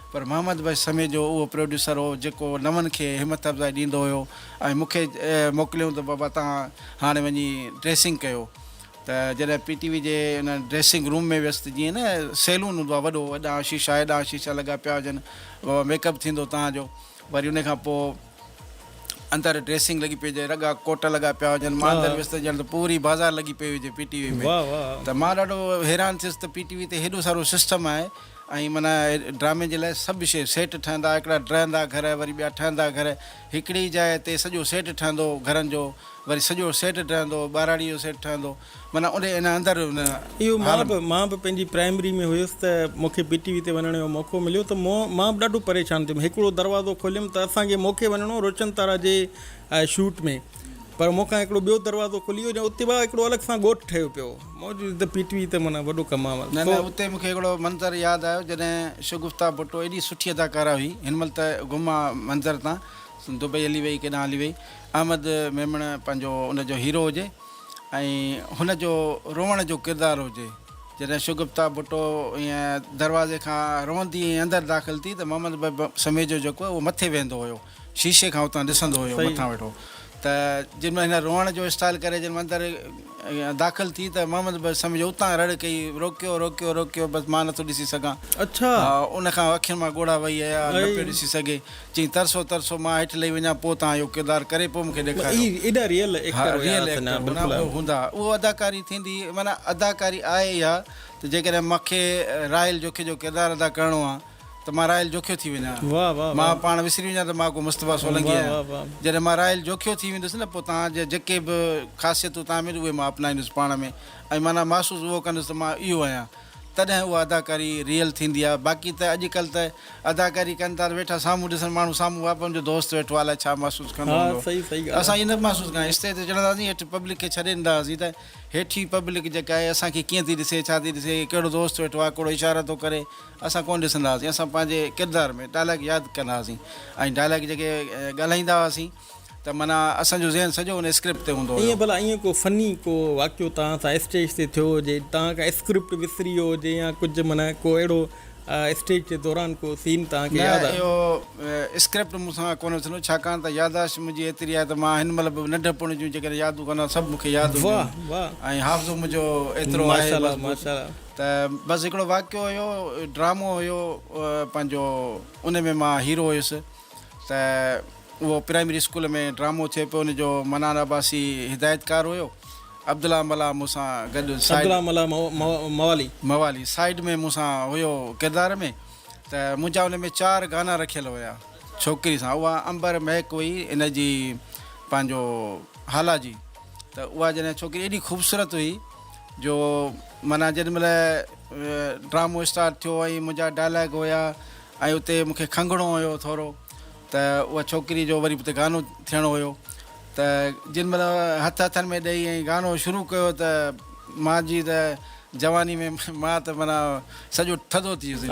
پر محمد بخش سميجو اهو پروڊيوسر هو جيڪو نون کي همٿ افزائي ڏيندو هيو ۽ مون کي موڪليائون ته بابا توهان هاڻي وڃي ڊريسنگ ڪيو ته جڏهن پي ٽي وي جي ان ڊريسنگ روم ۾ ويس ته جيئن نه سيلون هوندو آهي وڏو اڏا شيشا ايڏا شيشا لڳا پيا هجن بابا ميڪ اپ ٿيندو توهان جو وري ان کان پوء اندر ڊريسنگ لڳي پئي هجي، رڳا ڪوٽ لڳا پيا هجن، مان اندر ويس ته ڄڻ ته پوري بازار لڳي پئي هجي پي ٽي وي ۾ ته مان ڏاڍو حيران ٿيس ته پي ٽي وي تي هيڏو سارو سسٽم آهي ۽ معنيٰ ڊرامي جي لاء سڀ شيء سيٽ ٺهندا هڪڙا ڊرهندا گهر وري ٻيا ٺهندا گهر هڪڙي جاء تي سڄو سيٽ ٺهندو گهرن جو وري سڄو سيٽ ڊرهندو ٻهراڙي جو سيٽ ٺهندو معنيٰ ان ان اندر ان. اهو مان به مان به پنهنجي پرائمري ۾ هيس ته مون کي پي ٽي وي تي وڃڻ جو موقعو مليو ته مون مان به ڏاڍو پريشان ٿيم هڪڙو دروازو کوليم ته اسان کي مون کي وڃڻو روشن تارا جي شوٽ ۾ پر مون کان هڪڙو ٻيو دروازو کلي ويو جا اتي وا هڪڙو الڳ سان ڳوٺ ٺهيو پيو موجود ته پي ٽي وي ته معنيٰ وڏو ڪم آهي نه نه اتي مون کي هڪڙو منظر ياد آيو جڏهن شگفتا ڀٽو ايڏي سٺي اداڪاره هئي هن مهل ته گم آهي منظر تان دبئي هلي وئي ڪيڏانهن هلي وئي احمد ميمڻ پنهنجو ان جو هيرو هجي ۽ هن جو روئڻ جو ڪردار هجي. جڏهن شگفته ڀٽو ائين دروازي کان روئندي ائين اندر داخل ٿي ته محمد بئي سميجو جيڪو اهو مٿي ويهندو هيو شيشي کان اتان ڏسندو هيو مٿان ويٺو ته جن مهل هن روئڻ جو اسٽائيل ڪري جن مهل اندر داخل ٿي ته محمد بئي سميجو اتان رڙ ڪئي روڪيو روڪيو روڪيو بس مان نٿو ڏسي سگهان ان کان اکين مان ڳوڙها وهي آيا نه پيو ڏسي سگهي چيائين ترسو ترسو مان هيٺ لهي وڃان پوء توهان اهو ڪردار ڪري پوء مونکي ڏيکاريو. اهي ايڏا ريئل ايڪٽر هيا ته نه بلڪل. هوندا اهو اداڪاري ٿيندي معنيٰ اداڪاري آهي اها ته جيڪڏهن مونکي راحيل جوکي جو ڪردار ادا ڪرڻو آ ته مان راحيل جوکيو ٿي وڃان مان پاڻ وسري وڃان ته مان ڪو مصطفيٰ سولنگي آهيان جڏهن مان راحيل جوکيو ٿي ويندس نه پوء توهان جا جيڪي به خاصيتون توهان ۾ اهي مان اپنائيندس پاڻ ۾ ۽ معنيٰ محسوس اهو ڪندس ته مان اهو آهيان. تڏهن اها اداڪاري ريئل ٿيندي آ باقي ته اڄ ڪلھ ته اداڪاري ڪن ٿا ته ويٺا سامهون ڏسن ماڻهو سامهون اهو پنهنجو دوست ويٺو آ الاء ڇا محسوس ڪندو ها هوندو صحيح صحيح ڳالهه آ. اسان اهي نه محسوس ڪندا آهيون اسٽيج تي چڙهندا هئاسين هيٺ پبلڪ کي ڇڏي ڏيندا هئاسين ته هيٺين پبلڪ جيڪا آهي اسان کي ڪيئن ٿي ڏسي ڇا ٿي ڏسي ڪهڙو دوست ويٺو آ ڪهڙو اشارا ٿو ڪري اسان ڪونه ڏسندا هئاسين اسان پنهنجي ڪردار ۾ ڊائلاگ ياد ڪندا هئاسين ۽ ڊائلاگ جيڪي ڳالهائيندا هئاسين ته معنيٰ اسان جو ذهن سڄو ان اسڪرپٽ تي هوندو هيو. ايئن ڀلا ايئن ڪو فني ڪو واقعو توهان سان اسٽيج تي ٿيو هجي، توهان ڪا اسڪرپٽ وسري ويو هجي يا ڪجهه معنيٰ ڪو اهڙو اسٽيج جي دوران ڪو سين توهان کي نه ياد آهي؟ اهو اسڪرپٽ مون سان ڪونه وسرندو ڇاڪاڻ ته ياداشت منهنجي ايتري آهي ته مان هن مهل به ننڍپڻ جون جيڪڏهن يادون ڪندا سڀ مون کي ياد هونديون واهه واهه ۽ حافظو منهنجو ايترو آهي ماشاء الله مضبوط ماشاء الله. ته بس هڪڙو واقعو هيو ڊرامو هيو پنهنجو ان ۾ مان هيرو هيس. ته اهو پرائمري اسڪول ۾ ڊرامو ٿئي پيو ان جو منان عباسي هدايتڪار هيو عبدالله ملاح مون سان گڏ سائيڊ عبدالله ملاح موالي موالي سائيڊ ۾ مون سان هيو ڪردار ۾ ته منهنجا ان ۾ چار گانا رکيل هيا ڇوڪري سان اها امبر مهڪ هئي ان جي پنهنجو هالا جي ته اها جڏهن ڇوڪري ايڏي خوبصورت هئي جو معنيٰ جڏهن مل ڊرامو اسٽارٽ ٿيو ۽ منهنجا ڊائلاگ هيا ۽ اتي مون کي کنگهڻو هيو ٿورو ته اها ڇوڪري جو وري به ته گانو ٿيڻو هيو ته جن مهل هٿ هٿن ۾ ڏئي ۽ گانو شروع ڪيو ته مان جي ته جواني ۾ مان ته معنيٰ سڄو ٿڌو ٿي ويس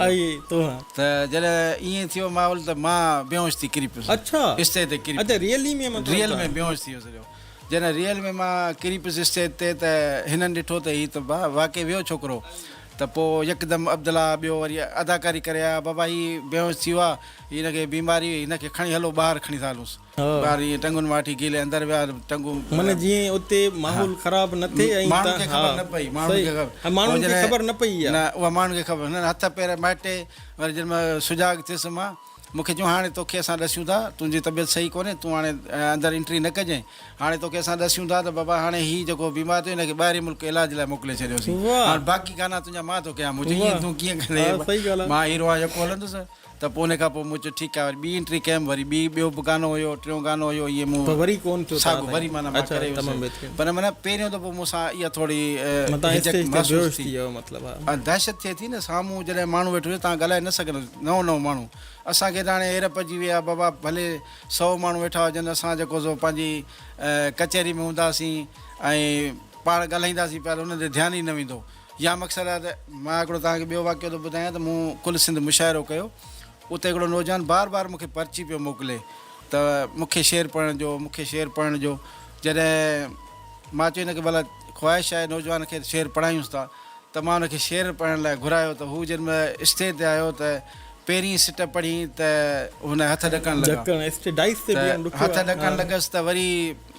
ته جڏهن ائين ٿيو ماحول ته مان بيهوش ٿي ڪري پيس اسٽيج تي ڪري پيس ريئل ۾ بيهوش ٿي ويس سڄو جڏهن ريئل ۾ مان ڪري پيس اسٽيج تي ته هنن ڏٺو ته هي ته واقعي ويو ڇوڪرو ته پوء يڪدم عبدالله ٻيو وري اداڪاري ڪري آيا، بابا هي بيهوش ٿي ويو آ، هن کي بيماري هئي، هن کي کڻي هلو ٻاهر کڻي ٿا هلونس. ٻاهر ائين ٽنگون مان وٺي گيلي اندر ويا ٽنگون. من جيئن اتي ماحول خراب نه ٿئي ۽ ماڻهن کي خبر نه پئي، ماڻهن کي خبر ۽ ماڻهن کي خبر نه پئي اها. نه اها ماڻهن کي خبر نه هٿ پير مهٽي وري جڏهن مان سجاڳ ٿيس مان. مون کي چيائون هاڻي توکي اسان ڏسيون ٿا تنهنجي طبيعت صحيح ڪونهي تون هاڻي اندر انٽري نه ڪجين هاڻي توکي اسان ڏسيون ٿا ته بابا هاڻي هي جيڪو بيمار ٿيو هن کي ٻاهرين ملڪ علاج لاء موڪلي ڇڏيوسين هاڻ باقي گانا تنهنجا مان ٿو ڪيان مون چيو ائين تون ڪيئن ڪندين مان هيرو آهيان يڪو هلندس ته پوء ان کان پوء مون چيو ٺيڪ آهي وري ٻي انٽري ڪيم وري ٻي ٻيو به گانو هيو ٽيون گانو هيو ائين مون ساڳو وري معنيٰ مان ڪري ويس پر معنيٰ پهريون دفعو مون سان اها ٿوري هجڪ محسوس ٿي ۽ دهشت ٿئي ٿي نه سامهون جڏهن ماڻهو ويٺو هجي تان ڳالهائي نه سگهندو نو نو ماڻهو اسان کي ته هاڻي هير پئجي وئي آهي بابا ڀلي سئو ماڻهو ويٺا هجن اسان جيڪو سو پنهنجي ڪچهري ۾ هونداسين ۽ پاڻ ڳالهائينداسين پيا ته انهن تي ڌيان ئي نه ويندو يا مقصد آهي ته مان هڪڙو توهان کي ٻيو واقعو ٿو ٻڌايان ته مون ڪل سنڌ مشاعرو ڪيو اتي هڪڙو نوجوان بار بار مون کي پرچي پيو موڪلي ته مون کي شعر پڙهڻ ڏيو مون کي شعر پڙهڻ ڏيو جڏهن مان چيو هن کي ڀلا خواهش آهي نوجوان کي شعر پڙهايونس ٿا ته مان هن کي شعر پڙهڻ لاء گهرايو ته هو جنهن مهل اسٽيج تي آيو ته پهرين سٽ پڙهي ته هن هٿ ڏڪڻ لڳا ته هٿ ڏڪڻ لڳس ته وري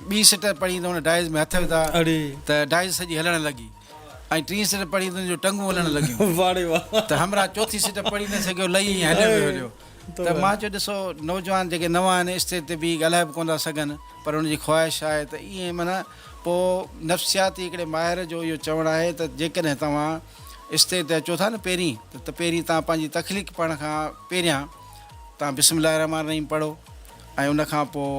ٻي سٽ پڙهي ته هن ڊائز ۾ هٿ وڌا ته ڊائز سڄي هلڻ لڳي ۽ ٽين سٽ پڙهي ته هن جون ٽنگون هلڻ لڳيون ته همراهه چوٿين سٽ پڙهي نه سگهيو لهي ائين هليو ويو هليو ته مان چيو ڏسو نوجوان جيڪي نوان آهن اسٽيج تي بيهي ڳالهائي به ڪونه ٿا سگهن پر هن جي خواهش آهي ته ائين معنيٰ پوء نفسياتي هڪڙي ماهر جو اهو چوڻ آهي ته جيڪڏهن توهان اسٽيج تي اچو ٿا نه پهرين ته پهرين توهان پنهنجي تخليق پڙهڻ کان پهريان توهان بسم الله الرحمٰن الرحيم پڙهو ۽ ان کان پوء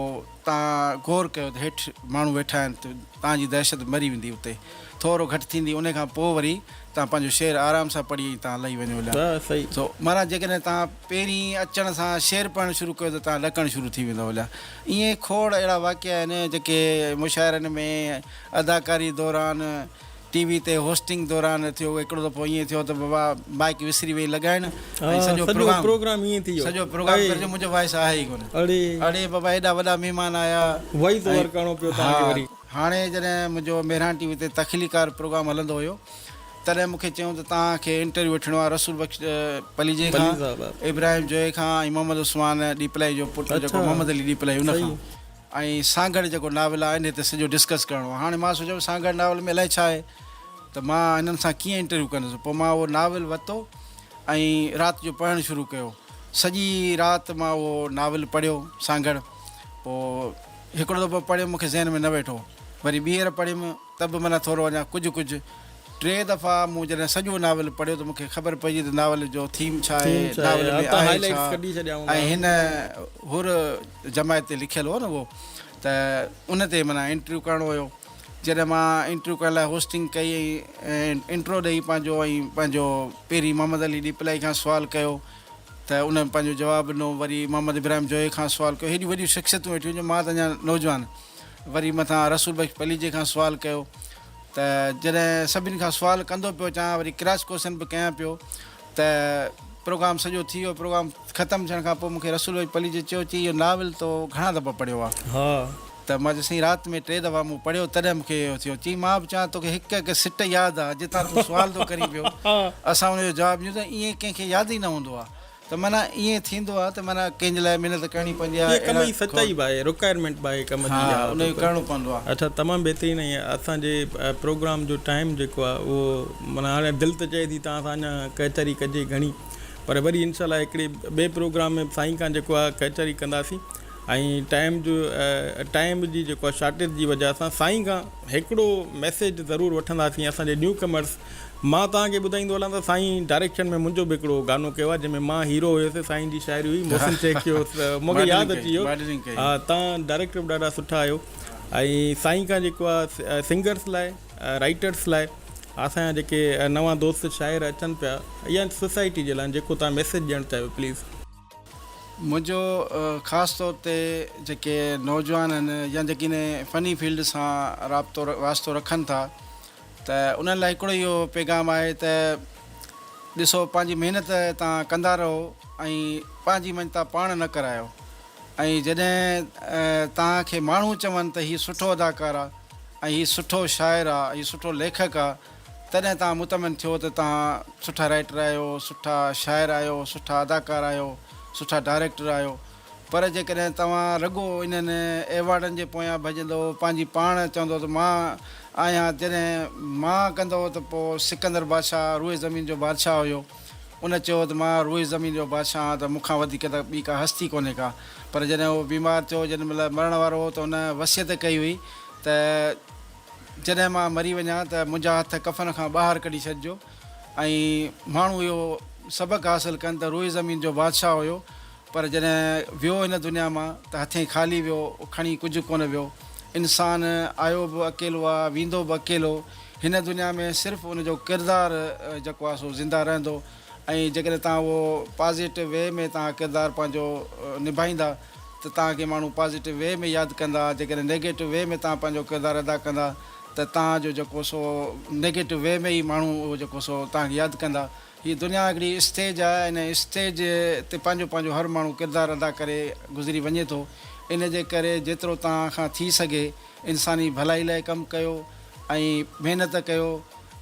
توهان غور ڪيو ته هيٺ ماڻهو ويٺا آهن ته توهان جي دهشت مري ويندي اتي ٿورو گهٽ ٿيندي ان کان پوء وري توهان پنهنجو شعر آرام سان پڙهي ۽ توهان لهي وڃو لاء سو معنيٰ جيڪڏهن توهان پهرين اچڻ سان شعر پڙهڻ شروع ڪيو ته توهان لڪڻ شروع ٿي ويندو لاء ائين کوڙ اهڙا واقعا آهن جيڪي مشاعرن ۾ اداڪاري دوران ٽي وي تي هوسٽنگ دوران ٿيو هڪڙو دفعو ائين ٿيو ته بابا مائيڪ وسري وئي لڳائڻ ۽ سڄو پروگرام سڄو پروگرام گڏجي منهنجو وائس آهي ئي ڪونه اڙي بابا ايڏا وڏا مهمان آيا ۽ ها هاڻي جڏهن منهنجو مهراڻ ٽي وي تي تخليقار پروگرام هلندو هيو تڏهن مون کي چيائون ته توهان کي انٽرويو وٺڻو آهي رسول بخش پليجي کان، ابراهيم جويي کان ۽ محمد عثمان ڏيپلائي جو پٽ جيڪو محمد علي ڏيپلائي ان کان ۽ سانگهڙ جيڪو ناول آهي ان تي سڄو ڊسڪس ڪرڻو آهي. هاڻي مان سوچيم سانگهڙ ناول ۾ الائي ڇا آهي ته مان هنن سان ڪيئن انٽرويو ڪندس. پوء مان اهو ناول ورتو ۽ رات جو پڙهڻ شروع ڪيو. سڄي رات مان اهو ناول پڙهيو سانگهڙ. پوء هڪڙو دفعو پڙهيم مون کي ذهن ۾ نه ويٺو وري ٻيهر پڙهيم. ته به معنيٰ ٿورو اڃا ڪجهه ڪجهه. ٽين دفعا مون جڏهن سڄو ناول پڙهيو ته مون کي خبر پئجي ته ناول جو ٿيم ڇا آهي، ناول ۾ آهي ڇا ۽ هن حر جماعت تي لکيل هو نه اهو ته ان تي معنيٰ انٽرويو ڪرڻو هيو. جڏهن مان انٽرويو ڪرڻ لاء هوسٽنگ ڪئي ۽ انٽرو ڏئي پنهنجو ۽ پنهنجو پهرين محمد علي ڏيپلائي کان سوال ڪيو ته ان پنهنجو جواب ڏنو وري محمد ابراهيم جويي کان سوال ڪيو هيڏيون وڏيون شخصيتون ويٺيون هيون جو مان ته اڃا نوجوان وري مٿان رسول بخش پليجي کان سوال ڪيو ته جڏهن سڀني کان سوال ڪندو پيو اچان وري ڪراس ڪوشچن به ڪيان پيو ته پروگرام سڄو ٿي ويو پروگرام ختم ٿيڻ کان پوء مون کي رسول بخش پليجي چيو چي اهو ناول تو گهڻا دفعا پڙهيو آهي ها ته مان چيس سائين رات ۾ ٽي دفعا مون پڙهيو تڏهن مون کي اهو ٿيو چي مان به چوان توکي هڪ هڪ سٽ ياد آهي جتان تون سوال ٿو ڪرين پيو اسان ان جو جواب ڏيون ته ائين ڪنهن کي ياد ئي نه هوندو آهي ته معنيٰ ائين ٿيندو آهي ته معنيٰ ڪنهن جي لاء محنت ڪرڻي پوندي آهي ڪم جي سچائي به آهي رڪوائرمينٽ به آهي ڪم جي ها ان کي ڪرڻو پوندو آهي. اچا تمام بهترين ۽ اسان جي پروگرام جو ٽائيم جيڪو آهي اهو معنيٰ هاڻي دل ته چئي ٿي توهان سان اڃا ڪهچري ڪجي گهڻي پر وري انشاء الله هڪڙي ٻئي پروگرام ۾ سائين کان جيڪو آهي ڪهچري ڪنداسين ۽ ٽائيم جو ٽائيم جي جيڪو آهي شارٽيج جي وجه سان سائين کان هڪڙو ميسيج ضرور وٺنداسين اسان جي نيو ڪمرس مان توهان کي ٻڌائيندو هلان ته سائين ڊائريڪشن ۾ منهنجو به هڪڙو گانو ڪيو آهي جنهن ۾ مان هيرو هيس سائين جي شاعري هئي محسن شيخ جو مون کي ياد اچي ويو ها توهان ڊائريڪٽر به ڏاڍا سٺا آهيو ۽ سائين کان جيڪو آهي سنگرس لاء رائيٽرس لاء اسان جا جيڪي نوان دوست شاعر اچن پيا يا سوسائٽي جي لاء جيڪو توهان ميسيج ڏيڻ چاهيو پليز. منهنجو خاص طور تي جيڪي نوجوان آهن يا جيڪي انهي فني فيلڊ سان رابطو واسطو رکن ٿا ته انهن لاء هڪڙو ئي اهو پيغام آهي ته ڏسو پنهنجي محنت تان ڪندا رهو ۽ پنهنجي مڃتا پاڻ نه ڪرايو ۽ جڏهن تان کي ماڻهو چون ته هي سٺو اداڪار آهي ۽ هي سٺو شاعر آهي هي سٺو ليکڪ آهي تڏهن توهان مطمئن ٿيو ته توهان سٺا رائيٽر آهيو، سٺا شاعر آهيو، سٺا اداڪار آهيو، سٺا ڊائريڪٽر آهيو. پر جيڪڏهن توهان رڳو انهن ايوارڊن جي پويان ڀڄندؤ، پنهنجي پاڻ چوندؤ ته مان آهيان، جڏهن مان ڪندؤ ته پوء سڪندر بادشاهه روئي زمين جو بادشاهه هيو. ان چيو ته مان روئي زمين جو بادشاهه آهيان ته مون کان وڌيڪ ته ٻي ڪا هستي ڪونهي ڪا. پر جڏهن هو بيمار ٿيو، جنهن مهل مرڻ وارو هو ته هن وصيت ڪئي هئي ته. جڏهن مان مري وڃان ته منهنجا هٿ ڪفن کان ٻاهر ڪڍي ڇڏجو ۽ ماڻهو اهو سبق حاصل ڪن ته روئي زمين جو بادشاهه هيو پر جڏهن ويو هن دنيا مان ته هٿين خالي ويو کڻي ڪجهه ڪونه ويو انسان آيو به اڪيلو آ ويندو به اڪيلو هن دنيا ۾ صرف ان جو ڪردار جيڪو آ سو زنده رهندو ۽ جيڪڏهن توهان اهو پازيٽو وي ۾ توهان ڪردار پنهنجو نڀائيندا ته توهان کي ماڻهو پازيٽو وي ۾ ياد ڪندا، جيڪڏهن نيگيٽو وي ۾ توهان پنهنجو ڪردار ادا ڪندا ته توهان جو جيڪو سو نيگيٽو وي ۾ ئي ماڻهو اهو جيڪو سو توهان کي ياد ڪندا. هي دنيا هڪڙي اسٽيج آهي ۽ ان اسٽيج تي پنهنجو پنهنجو هر ماڻهو ڪردار ادا ڪري گذري وڃي ٿو ان جي ڪري جيترو توهان کان ٿي سگهي انساني ڀلائي لاء ڪم ڪيو ۽ محنت ڪيو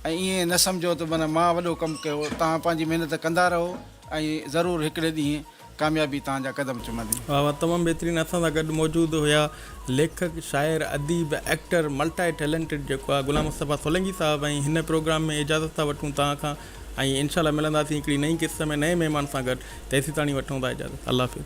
۽ ائين نه سمجهو ته من مان وڏو ڪم ڪيو توهان پنهنجي محنت ڪندا رهو ۽ ضرور هڪڙي ڏينهن ڪاميابي توهان جا قدم چمندي. واھ واھ تمام بهترين اسان سان گڏ موجود هيا ليکڪ شاعر اديب ايڪٽر ملٽائي ٽيلنٽيڊ جيڪو آ غلام مصطفيٰ سولنگي صاحب ۽ هن پروگرام ۾ اجازت ٿا وٺون توهان کان ۽ انشاء الله ملنداسين هڪڙي نئين قسط ۾ نئين مهمان سان گڏ تيسيتاڻي وٺون ٿا اجازت الله حافظ.